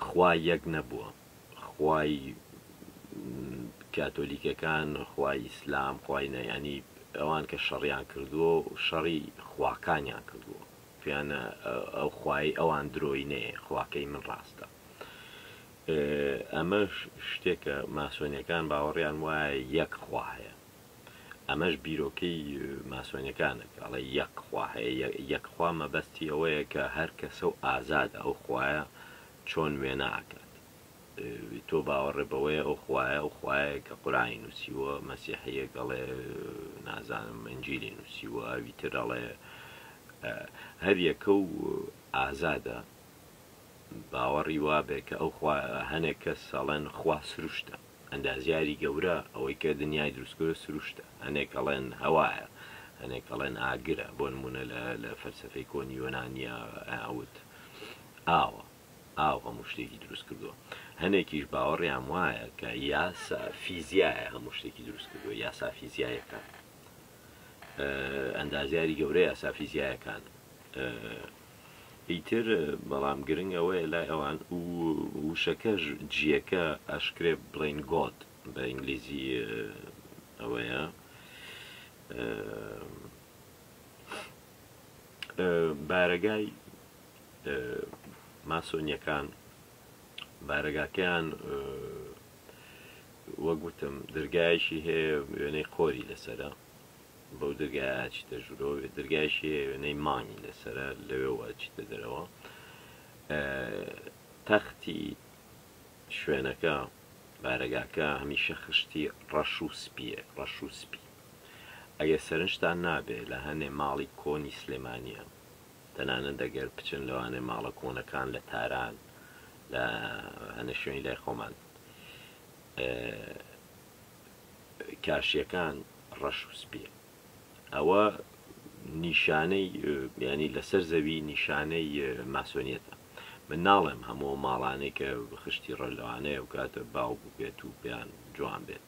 خوا یەک نەبووە، خوای کاتۆلیکەکان خوای ئیسلام خوای نە یانی ئەوان کە شەڕیان کردووە و شەڕی خواکانیان کردووە پێیان ئەو خوای ئەوان درۆی نەیە خواکەی من ڕاستە ئەمەش شتێکە ماسۆنیەکان باوەڕیان وایە یەک خوا هەیە ئەمەش بیرۆکەی ماسۆنیەکانە کە ئەڵێ یەک خوا هەیە یەکخوا مەبەستی ئەوەیە کە هەر کەسە و ئازادە ئەو خوایە چۆن وێنا ئەکات؟ تۆ باوەڕێ بەوەیە ئەو خوایە ئەو خوایەیە کە قورئانی نووسیووە، مەسیحییەک ئەڵێ نازانم ئنجیلی نووسیووە، ئەوی تر ئەڵێ. هەر یەکە و ئازادە باوەڕی وابێ کە ئەو خوا هەنێک کەس ئەڵێن خوا سروشتە، ئەندازیاری گەورە ئەوەی کە دنیای دروست کردووە سروشتە، هەنێک ئەڵێن هەوایە، هەنێک ئەڵێن ئاگرە، بۆ نموونە لە فەلسەفەی کۆنی یۆنانیا ئەوت. ئاوە ئاو هەموو شتێکی دروست کردووە هەنێکیش باوەڕیان وایە کە یاسا فیزیایە هەموو شتێکی دروست کردووە یاسا فیزیایەکان ئەندازیاری گەورە یاسا فیزیایەکان ئیتر بەڵام گرنگ ئەوەیە لای ئەوان و وشەکەش جیەکە ئەشکرێ بڵین گۆت بە ئینگلیزی ئەوەیە بارەگای ماسۆنیەکان بارەگاکەیان وەک وتم درگایشی هەیە وێنەی قۆری لەسرە بەو درگایە چیتە ژورۆ درگایشی هەیە وێنەی مانگی لەسرە لەوێوە چیتە دەرەوە تەختی شوێنەکە بارەگاکە هەمیشە خشتی ڕەش و سپیە ڕەش و سپی ئەگە سەرنجتان نابێ لە هەنێ ماڵی کۆنی سلێمانە تەنانەت ئەگەر بچن لەوانەیە ماڵە کۆنەکان لە تاران لە هەنێ شوێنی لای خۆمان کاشیەکان ڕەش و سپیە ئەوە نیشانەی بیانی لەسەر زەوی نیشانەی ماسۆنیەتە من ناڵێم هەموو ماڵانێک کە خشتی ڕەلوانەیە و کاتە باو ببێت و بیان جوان بێت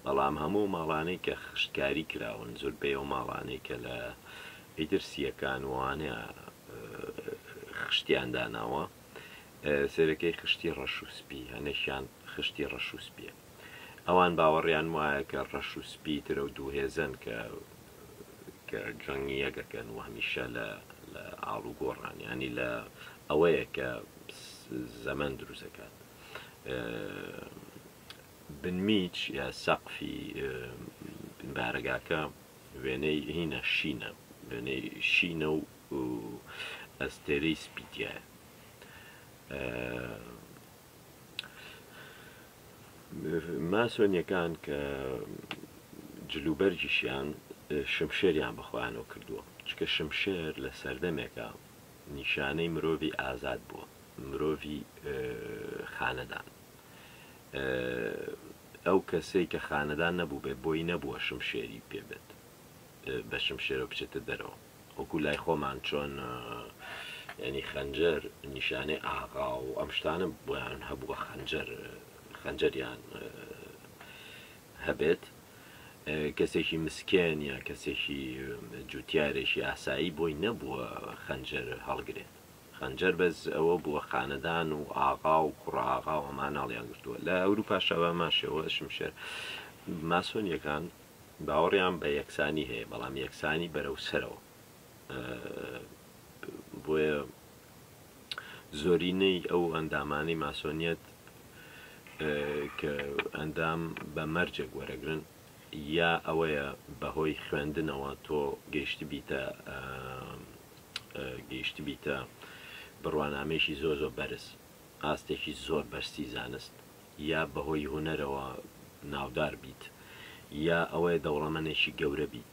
بەڵام هەموو ماڵانەی کە خشتکاری کراون زۆر بێ و ماڵانەی کە لە ئیتر سیەکان وانە خشتیان داناوە سەرەکەی خشتی ڕەش و سپی هەنەشیان خشتی ڕەش و سپیە ئەوان باوەڕیان وایە کە ڕەش و سپی ترە و دوو هێزەن کە کە جەنگی یەکەکەن و هەمیشە لە لە ئاڵ و گۆڕان یانی لە ئەوەیە کە زەمەن دروستەکات بنمیچ یا سەقفی بارەگاکە وێنەی هینا شینە، وێنەی شینە و ئەستێرەی سپی تیایە. ماسۆنیەکان کە جلوبەرگیشیان شمشێریان بە خۆیانەوە کردووە، چونکە شمشێر لە سەردەمێکا نیشانەی مرۆڤی ئازاد بووە، مرۆڤی خانەدان. ئەو کەسەی کە خانەدان نەبووبێ بۆی نەبووە شمشێری پێ بێت بە شمشێرەوە بچێتە دەرەوە وەکو لای خۆمان چۆن ینی خەنجەر نیشانەی ئاغا و ئەم شتانە بۆیان هەبووە خەنجەر خەنجەریان هەبێت کەسێکی مسکێن یا کەسێکی جوتیارێکی ئاسایی بۆی نەبووە خەنجەر هەڵگرێت خەنجەر بەس ئەوە بووە خانەدان و ئاغا و کوڕە ئاغا و ئەمان ناڵیان گرتووە لە ئەوروپاشا بە هەمان شێوە شمشێر ماسۆنیەکان باوەڕیان بە یەکسانی هەیە بەڵام یەکسانی بەرەو سەرەوە بۆیە زۆرینەی ئەو ئەندامانی ماسۆنیەت کە ئەندام بە مەرجێک وەرەگرن یا ئەوەیە بەهۆی خوێندنەوە تۆ گەیشتبیتە گەیشتبیتە بڕوانامەیەکی زۆر زۆر بەرز، ئاستێکی زۆر بەرزی زانست، یا بەهۆی هونەرەوە ناودار بیت، یا ئەوەیە دەوڵەمەنێکی گەورە بیت،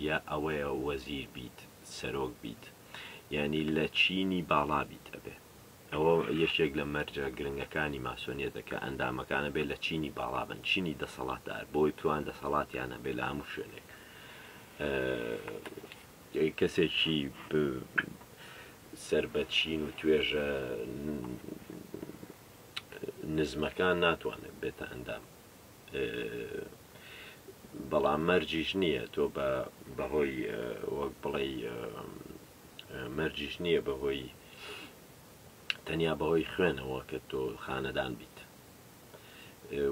یا ئەوەیە وەزیر بیت، سەرۆک بیت، یانی لە چینی باڵا بیت ئەبێ. ئەوە یەکێک لە مەرجە گرنگەکانی ماسۆنیەتە کە ئەندامەکان ئەبێ لە چینی باڵا بن، چینی دەسەڵاتدار، بۆی بتوان دەسەڵاتیان هەبێ لە هەموو شوێنێک. کەسێکی سەر بە چین و توێژە نزمەکان ناتوانێت بێتە ئەندام. بەڵام مەرجیش نییە تۆ بە بەهۆی وەک بڵێ مەرجیش نییە بەهۆی تەنیا بەهۆی خوێنەوە کە تۆ خانەدان بیت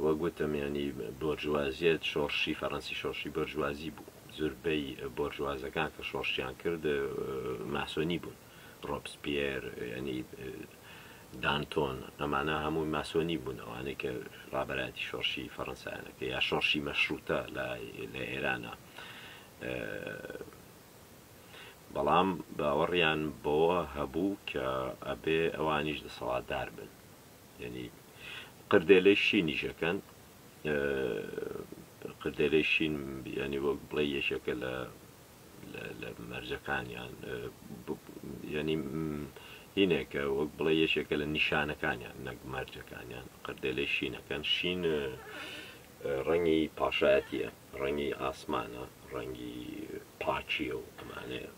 وەک وتم ینی بۆرجوازیت شۆڕشی فەڕەنسی شۆڕشی بەرجوازی بوو زوربەی بۆرجوازەکان کە شۆڕشیان کرد ماسۆنی بوون ڕۆپس پێر ینی دانتۆن ئەمانە هەمووی ماسۆنی بوون ئەوانەی کە ڕابەتی شۆڕشی فەڕەنسایەکە یا شۆڕشی مەشروتە لە ئێرانە بەڵام باوەڕیان بەوە هەبوو کە ئەبێ ئەوانیش دەسەڵاتدار بن یەنی قردێلەی شینیش ئەکەن قردێلەی شین یەنی وەک بڵێ یەکێکە لە لە مەرجەکانیان یەنی هینێکە وەک بڵێ یەکێکە لە نیشانەکانیان نەک مەرجەکانیان قردێلەی شینەکەن شین ڕەنگی پاشایەتیە، ڕەنگی ئاسمانە، ڕەنگی پاکیە و ئەمانەیە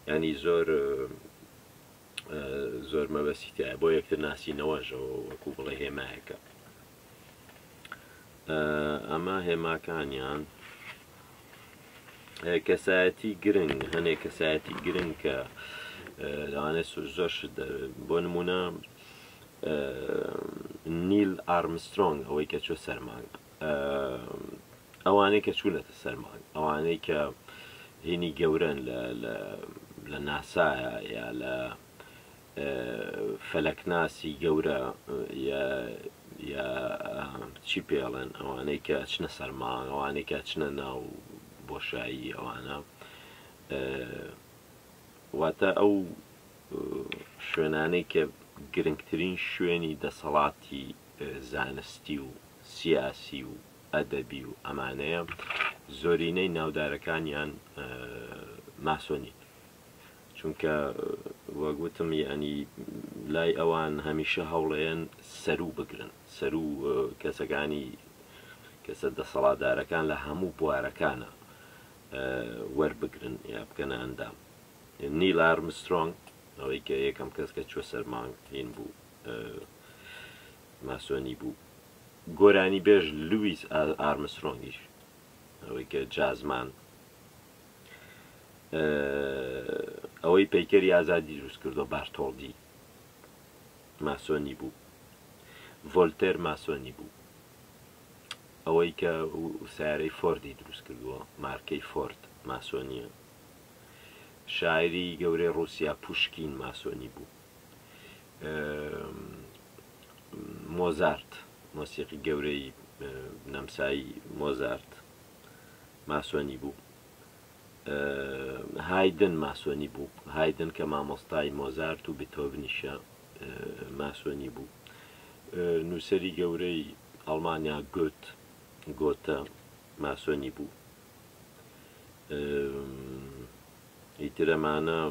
یانی زۆر زۆر مەبەستی تایە بۆ یەکتر ناسینەوەژەوە وەکو بڵێ هێمایەکە ئەمە هێماکانیان کەسایەتی گرنگ هەنێ کەسایەتی گرنگ کە لەوانێ زۆر بۆ نمونە نیل ئارمسترۆنگ ئەوەی کە چوە سەر مانگ ئەوانەی کە چوونەتە سەر مانگ ئەوانەی کە هینی گەورەن لە ناسایە یا لە فەلەکناسی گەورە یا چی پێڵێن ئەوانەی کە چنە سەر مانگ ئەوانەی کە چنە ناو بۆشایی ئەوانە واتە ئەو شوێنانەی کە گرنگترین شوێنی دەسەڵاتی زانستی و سیاسی و ئەدەبی و ئەمانەیە زۆرینەی ناودارەکانیان ماسۆنین چونکە وەگوتم یعنی لای ئەوان هەمیشە هەوڵێن سەرو بگرن سەرو کەسەکانی کەسە دەسەڵاتدارەکان لە هەموو بوارەکانە وەربگرن یا بکەنە ئەندام نیل ئارمسترۆنگ، ئەوەی کە یەکەم کەس کە چووە سەر مانگ هین بوو، ماسۆنی بوو. گۆرانیبێژ لویس ئارمسترۆنگیش، ئەوەی کە جازمان، ئەوەی پەیکەری ئازادی دروست کردووە، بارتۆڵدی، ماسۆنی بوو. ڤۆلتێر ماسۆنی بوو. ئەوەی کە سیارەی فۆردی دروست کردووە، مارکەی فۆرد، ماسۆنییە. شاعیری گەورەی ڕوسیا پوشکین ماسۆنی بوو مۆزارت مۆسیقی گەورەی نەمسایی مۆزارت ماسۆنی بوو هایدن ماسۆنی بوو هایدن کە مامۆستای مۆزارت و بتۆڤنیشە ماسۆنی بوو نووسری گەورەی ئەڵمانیا گوت گۆتە ماسۆنی بوو ئیتر ئەمانە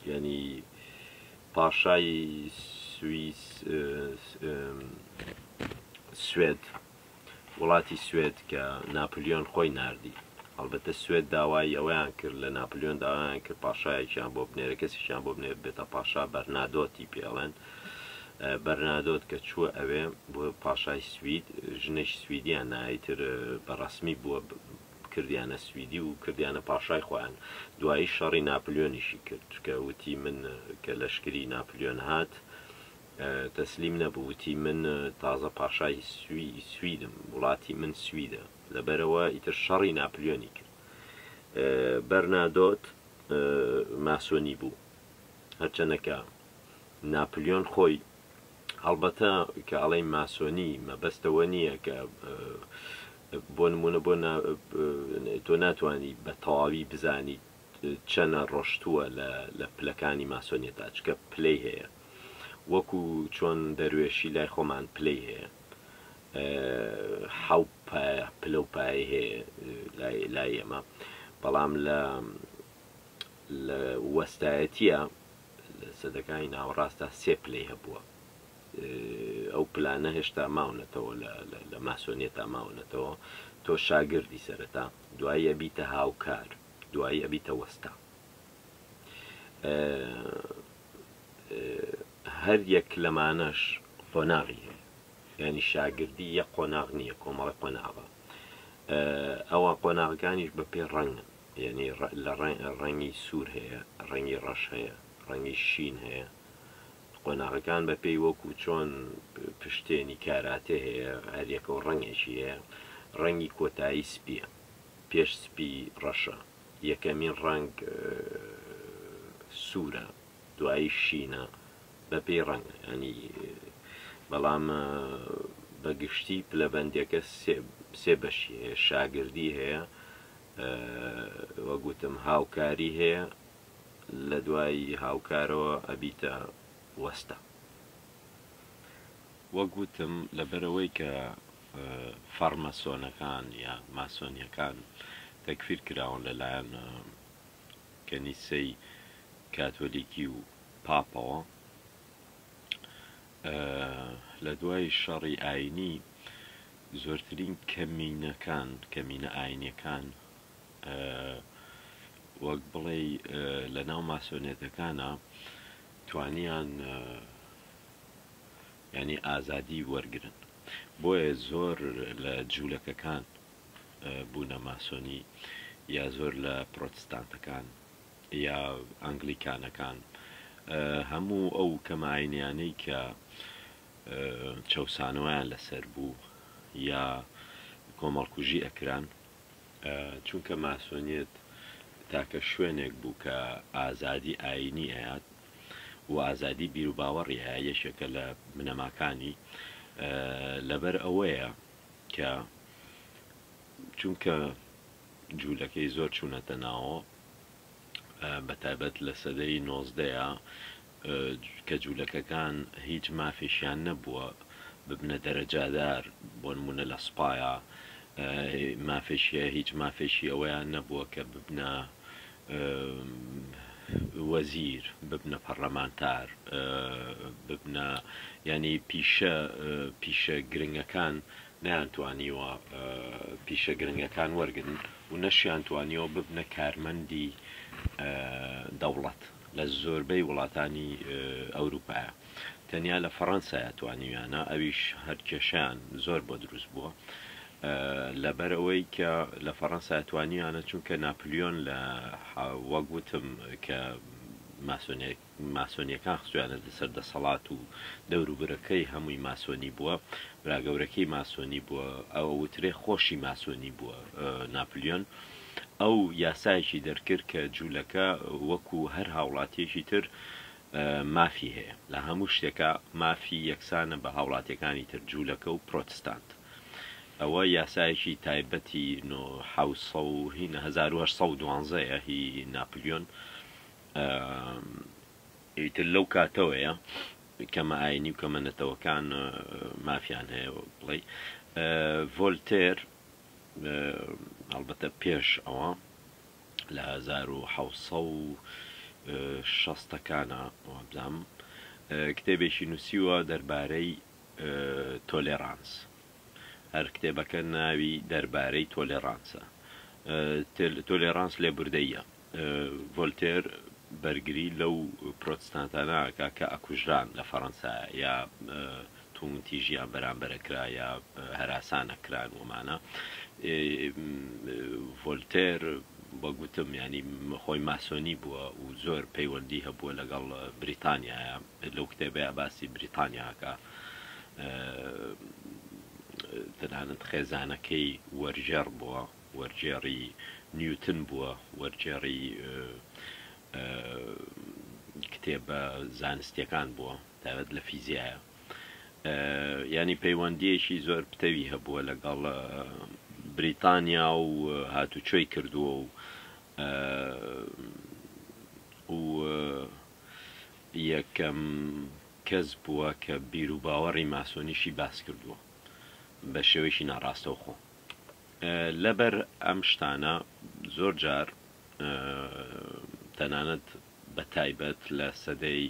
یعنی پاشای سویس سوێد وڵاتی سوێد کە ناپلیۆن خۆی نردی هەڵبەتە سوێت داوای ئەویان کرد لە ناپلیۆن داوایان کرد پاشایەکیان بۆ بنێرە کەسیشیان بۆ بنێر بێتە پاشا بەرنادۆتی پێڵێن بەرنادۆت کە چووە ئەوێ بووە پاشای سوید، ژنێکی سویدیان نا ئیتر بە ڕەسمی بووە کردیانە سویدی و کردیانە پاشای خۆیان، دوایی شەڕی ناپلیۆنیشی کرد چونکە وتی من کە لەشکری ناپلیۆن هات تەسلیم نەبوو وتی من تازە پاشای سویدم وڵاتی من سویدە لەبەرەوە ئیتر شەڕی ناپلیۆنی کرد. بەرنادۆت ماسۆنی بوو هەرچەندە کە ناپلیۆن خۆی هەڵبەتە کە ئەڵێی ماسۆنی مەبەستەوە نییە کە بۆ نمونە بۆ تۆ ناتانی بە تەواوی بزانیت چەنە ڕۆشتووە لە پلەکانی ماسۆنیە تاچکە پلەی هەیە وەکو چۆن دەروێشی لای خۆمان پلەی هەیە حەو پلە و پای هەیە لای ئێمە بەڵام لە لە وەستایەتە لە سەدەکانی ناوەڕاستدا سێ پلەی هەبووە. ئەو پلانە هێشتا ماونەتەوە لە ماسۆنیەتا ماونەتەوە. تۆ شاگردی سەرەتا، دوایی ئەبیتە هاوکار، دوایی ئەبیتە وەستا. هەر یەک لەمانەش قۆناغی هەیە. یانی شاگردی یەک قۆناغ نییە، کۆمەڵە قۆناغە. ئەوە قۆناغەکانیش بە پێ ڕەنگن. یەعنی لە ڕەنگی سوور هەیە، ڕەنگی ڕەش هەیە، ڕەنگی شین هەیە، قۆناغەکان بە پێی وەکوو چۆن پشتێنی کاراتێ هەیە هەر یەکەو ڕەنگێکی هەیە، ڕەنگی کۆتایی سپییە پێش سپی ڕەشە، یەکەمین ڕەنگ سوورە دوایی شینە بە پێی ڕەنگ یەعنی بەڵام بە گشتی پلەبەندیەکە سێ بەشی هەیە، شاگردی هەیە، وەک وتم هاوکاری هەیە لە دوای هاوکارەوە ئەبیتە وەستە. وەک وتم لەبەرەوەی کە فەڕمەسۆنەکان یا ماسۆنیەکان تەکفیر کراون لە لایەن کەنیسەی کاتۆلیکی و پاپەوە لە دوای شەڕی ئاینی زۆرترین کەمینەکان، کەمینە ئایینیەکان وەک بڵێی لەناو ماسۆنێتەکانا توانیان یانی ئازادی وەرگن بۆیە زۆر لە جوولەکەکان بوونە ماسۆنی یا زۆر لە پرۆتستانتەکان یا ئەنگلیکانەکان هەموو ئەو کەماینیانەی کە چەوسانەوەیان لەسەر بوو یا کۆمەڵکوژی ئەکران چونکە ماسۆنیت تاکە شوێنێک بوو کە ئازادی ئاینی ئەیات و ئازادی بیروباوەڕی ئایا یەکێکە لە بنەماکانی لەبەر ئەوەیە کە چونکە جوولەکەی زۆر چوونەتە ناوە بە تایبەت لە سەدەی نۆزدەیە کە جولەکەکان هیچ مافێکیان نەبووە ببنە دەرەجادار بۆنمونە لە سوپایا مافێکیە هیچ مافێکی ئەوەیان نەبووە کە ببنە وەزیر ببنە پەڕلەمانتار ببنە ینی پیشە پیشە گرنگەکان نیانتوانیوە پیشە گرنگەکان وەرگن و نەشیان توانیەوە ببنە کارمەندی دەوڵەت لە زۆربەی وڵاتانی ئەوروپایە تەنیا لە فەڕەنسایە توانیویانە ئەویش هەر کێشەیان زۆر بۆ دروست بووە لەبەر ئەوەی کە لە فەڕەنسا توانیانە چونکە ناپلیۆن لە وەک وتم کە ماسۆنیەکان خستویانە لەسەر دەسەڵات و دەوروبرەکەی هەمووی ماسۆنی بووە براگەورەکەی ماسۆنی بووە ئەوە وترێ خۆشی ماسۆنی بووە ناپلیۆن ئەو یاسایەکی دەرکرد کە جوولەکە وەکو هەر هاوڵاتیەکی تر مافی هەیە لە هەموو شتێکا مافی یەکسانە بە هاوڵاتیەکانی تر جوولەکە و پرۆتستانت ئەوە یاسایەکی تایبەتی نۆ حەوت سەد و هینە هەزار و هەشت سەد و دوانزە یە هی ناپلیۆن ئیتر لەو کاتەوەیە کەمە ئاینی و کەمە نەتەوەکان مافیان هەیە بڵێ ڤۆلتێر هەڵبەتە پێش ئەوە لە هەزار و حەوت سەد و شەستەکانا وابزانم کتێبێکی نووسیوە دەربارەی تۆلێرانس هەر کتێبەکە ناوی دەربارەی تۆلێرانسە تۆلێرانس لێبوردەیە ڤۆلتێر بەرگری لەو پرۆتستانتانە ئەکا کە ئەکوژران لە فەرەنسا یا تووندتیژیان بەرامبەر ئەکرا یا هەراسان ئەکران وەمانە ڤۆلتێر وەک گوتم یانی خۆی ماسۆنی بووە و زۆر پەیوەندی هەبووە لەگەڵ بریتانیایە لەو کتێبەیە باسی بریتانیاکە تەنانەت خێزانەکەی وەرژێڕ بووە وەرگێڕی نیوتن بووە، وەرگێڕی کتێبە زانستیەکان بووە تایبەت لە فیزیایە، یانی پەیوەندیەکی زۆر پتەوی هەبووە لەگەڵ بریتانیا و هاتوچۆی کردووە و و یەکەم کەس بووە کە بیرو باوەڕی ماسۆنیشی باس کردووە بە شێوەیەکی ناڕاستەوخۆ. لەبەر ئەم شتانە زۆر جار تەنانەت بە تایبەت لە سەدەی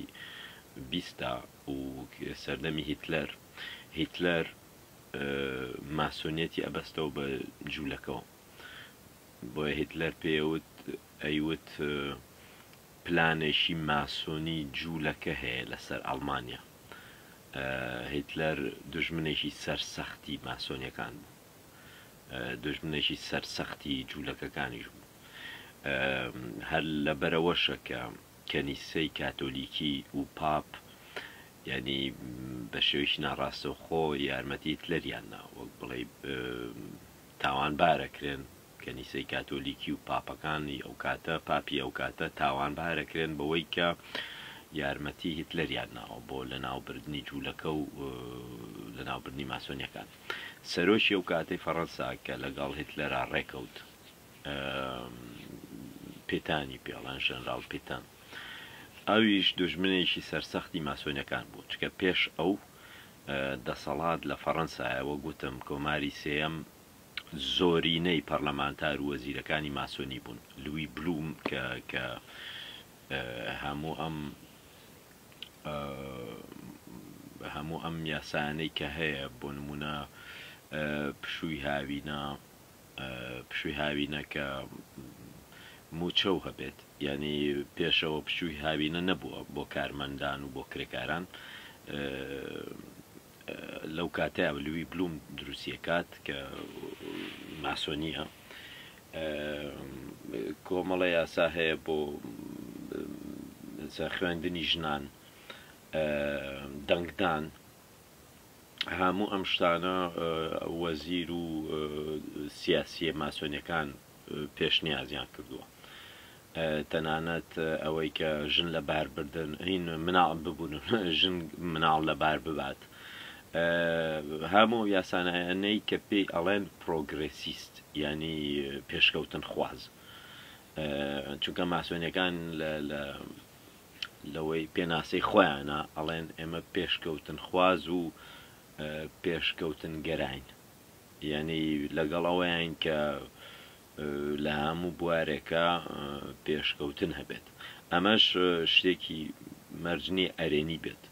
بیستدا و سەردەمی هیتلەر هیتلەر ماسۆنیەتی ئەبەستەوە بە جوولەکەوە بۆیە هیتلەر پێوت ئەیوت پلانێکی ماسۆنی جوولەکە هەیە لەسەر ئەڵمانیا هیتلەر دوژمنێکی سەرسەختی ماسۆنیەکان بوو، دوژمنێکی سەرسەختی جوولەکەکانیش بوو. هەر لەبەرئەوەشە کە کەنیسەی کاتۆلیکی و پاپ یانی بە شێوەیەکی ناڕاستەوخۆ یارمەتی هیتلەریان دا، وەک بڵێی تاوانبار ئەکرێن کەنیسەی کاتۆلیکی و پاپەکانی ئەوکاتە، پاپی ئەوکاتە، تاوانبارە کرێن بەوەی کە یارمەتی هیتلەریان ناوە بۆ لەناوبردنی جوولەکە و لەناوبردنی ماسۆنیەکان. سەرۆکی ئەوکاتەی فەڕەنسا کە لەگەڵ هیتلەرا ڕێکەوت، پیتانی پێ ئەڵێن، ژەنراڵ پیتان، ئەویش دوژمنێکی سەرسەختی ماسۆنیەکان بوو، چکە پێش ئەو دەسەڵات لە فەڕەنسایە، وەک وتم کۆماری سێیەم زۆرینەی پەرلەمانتار و وەزیرەکانی ماسۆنی بوون. لوی بلوم کە کە هەموو ئەم هەموو ئەم یاسایانەی کە هەیە بۆ نمونە پشووی هاوینە پشووی هاوینە کە موچە و هەبێت یعنی پێشەوە پشووی هاوینە نەبووە بۆ کارمەندان و بۆ کرێکاران لەو کاتە لوی بلوم دروستی ئەکات کە ماسۆنیە کۆمەڵە یاسا هەیە بۆ خوێندنی ژنان دەنگدان هەموو ئەم شتانە وەزیر و سیاسیە ماسۆنیەکان پێشنیازیان کردووە تەنانەت ئەوەی کە ژن لە باربردن هین مناڵ ببوون ژن مناڵ لە بار ببات هەموو یاسانەیانەی کە پێی ئەڵێن پرۆگرسیست ینی پێشکەوتن خواز چونکە ماسۆنیەکان لە لەوەی پێناسەی خۆیانە ئەڵێن ئێمە پێشکەوتن خواز و پێشکەوتن گەراین یەعنی لەگەڵ ئەوەیان کە لە هەموو بوارێکا پێشکەوتن هەبێت. ئەمەش شتێکی مەرج نییە ئەرێنی بێت.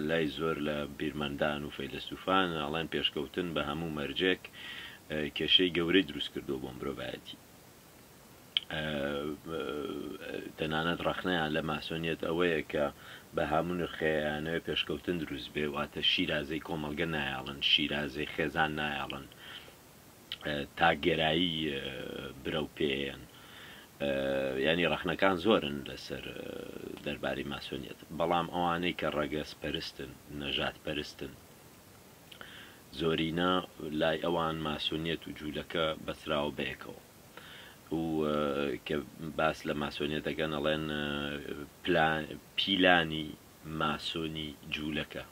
لای زۆر لە بیرمەندان و فەیلەسوفان ئەڵێن پێشکەوتن بە هەموو مەرجێک کێشەی گەورەی دروست کردووە بۆ مرۆڤایەتی. تەنانەت ڕەخنەیان لە ماسۆنیەت ئەوەیە کە بە هەموو نرخێ ئەیانەوێ پێشکەوتن دروست بێ، واتە شیرازەی کۆمەڵگە نایەڵن، شیرازەی خێزان نایەڵن، تاکگەرایی برە و پێیەن. یانی ڕەخنەکان زۆرن لەسەر دەربارەی ماسۆنیەت، بەڵام ئەوانەی کە ڕەگەز پەرستن، نەژاد پەرستن، زۆرینە لای ئەوان ماسۆنیەت و جوولەکە بەستراوە بەیەکەوە. و کە باس لە ماسۆنیەت دەکەن ئەڵێن پیلانی ماسۆنی جوولەکە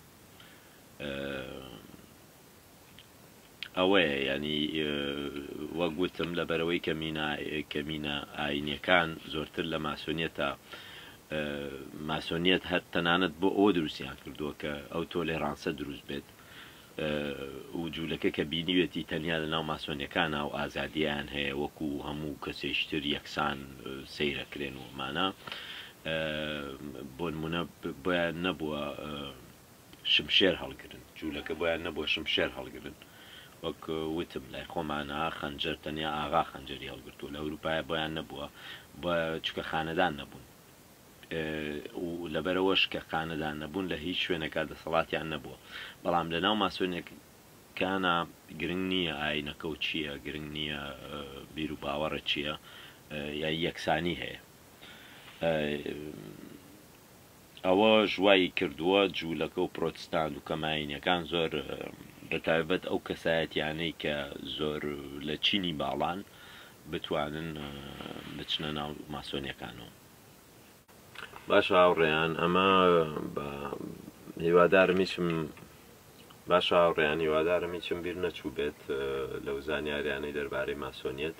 ئەوەیە ینی وەگوتم لە بەرەوەی کەمینا کەمینە ئاینەکان زۆرتر لە ماسۆنیەتە ماسۆنیەت هەر تەنانەت بۆ ئەوە دروستیان کردووە کە ئەو تۆ لێ ڕانسە دروست بێت و جولەکە کە بینیوێتی تەنیا لەناو ماسۆنیەکان ئاو ئازادیان هەیە وەکو هەموو کەسێش تر یەکسان سەیرەکرێن و ئەمانە بۆنمونە بۆیان نەبووە شمشێر هەڵگرن جولەکە بۆیان نەبووە شمشێر هەڵگرن وەک وتم لای خۆمانە خەنجەر تەنیا ئاغا خەنجەری هەڵگرتووە لە ئەوروپایە بۆیان نەبووە بە چکە خانەدان نەبوون و لەبەرئەوەش کە قانەدا نەبوون لە هیچ شوێنێکا دەسەڵاتیان نەبووە بەڵام لەناو ماسۆنیەکانا گرنگ نییە ئاینەکەو چییە گرنگ نییە بیرو باوەڕت چییە یای یەکسانی هەیە ئەوەش وای کردووە جوولەکەو پرۆتستانت و کەمایینەکان زۆر بەتایبەت ئەو کەسایەتیانەی کە زۆر لە چینی باڵان بتوانن بچنە ناو ماسۆنیەکانەوە. باشە هاوڕێیان ئەمە بە هیوادارم هیچم باش هاوڕێیان هیوادارم هیچم بیر نەچوو بێت لەو زانیاریانەی دەربارەی ماسۆنیەت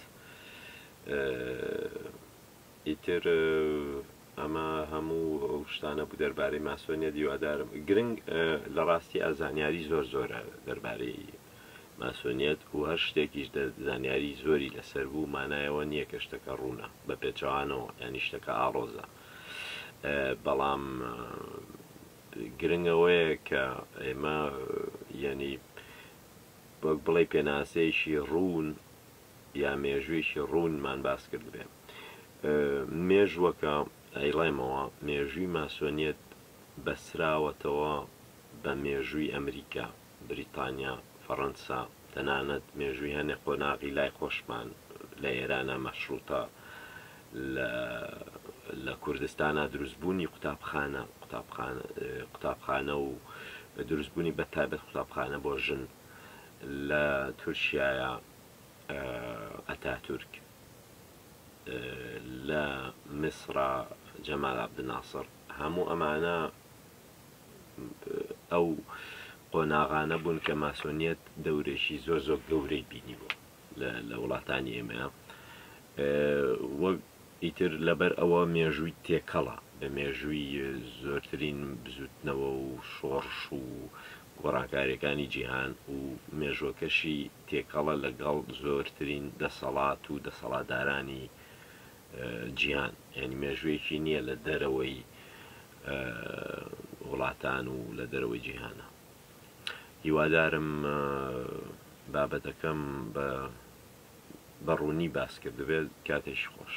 ئیتر ئەمە هەموو ئەو شتانە بوو دەربارەی ماسۆنیە دیوادارم گرنگ لە ڕاستی ئازانیاری زۆر زۆرە دەربارەی ماسۆنیەت و هەر شتێکیش دە زانیاری زۆری لە سەر بوو مانای ئەوە نیە کە شتەکە ڕوونە بە پێچەوانەوە یانی شتەکە ئاڕۆزە بەڵام گرنگ ئەوەیە کە ئێمە یانی وەک بڵێ پێناسەیەکی ڕوون یا مێژوویەکی ڕوونمان باس کردبێ مێژوەکە ئەیڵێمەوە مێژووی ماسۆنیەت بەسراوەتەوە بە مێژووی ئەمریکا بریتانیا، فەڕەنسا، تەنانەت مێژووی هەنێ قۆناغی لای خۆشمان لە ئێرانا مەشڕووتە، لە لە کوردستانا دروستبوونی قوتابخانە، قوتابخانە قوتابخانە و دروستبوونی بە تایبەت قوتابخانە بۆ ژن لە تورکیایا ئەتاتورک، لە میسڕا جەمال عەبدناسڕ، هەموو ئەمانە ئەو قۆناغانە بوون کە ماسۆنیەت دەورێکی زۆر زۆر گەورەی بینیوە لە وڵاتانی ئێمە وە ئیتر لەبەر ئەوە مێژووی تێکەڵە بە مێژووی زۆرترین بزوتنەوە و شۆڕش و گۆڕانکاریەکانی جیهان و مێژۆکەشی تێکەڵە لەگەڵ زۆرترین دەسەڵات و دەسەڵاتدارانی جیهان ینی مێژوویەکی نییە لە دەرەوەی وڵاتان و لە دەرەوەی جیهانە هیوادارم بابەتەکەم بە بە ڕوونی باسکردبێت کاتێکی خۆش.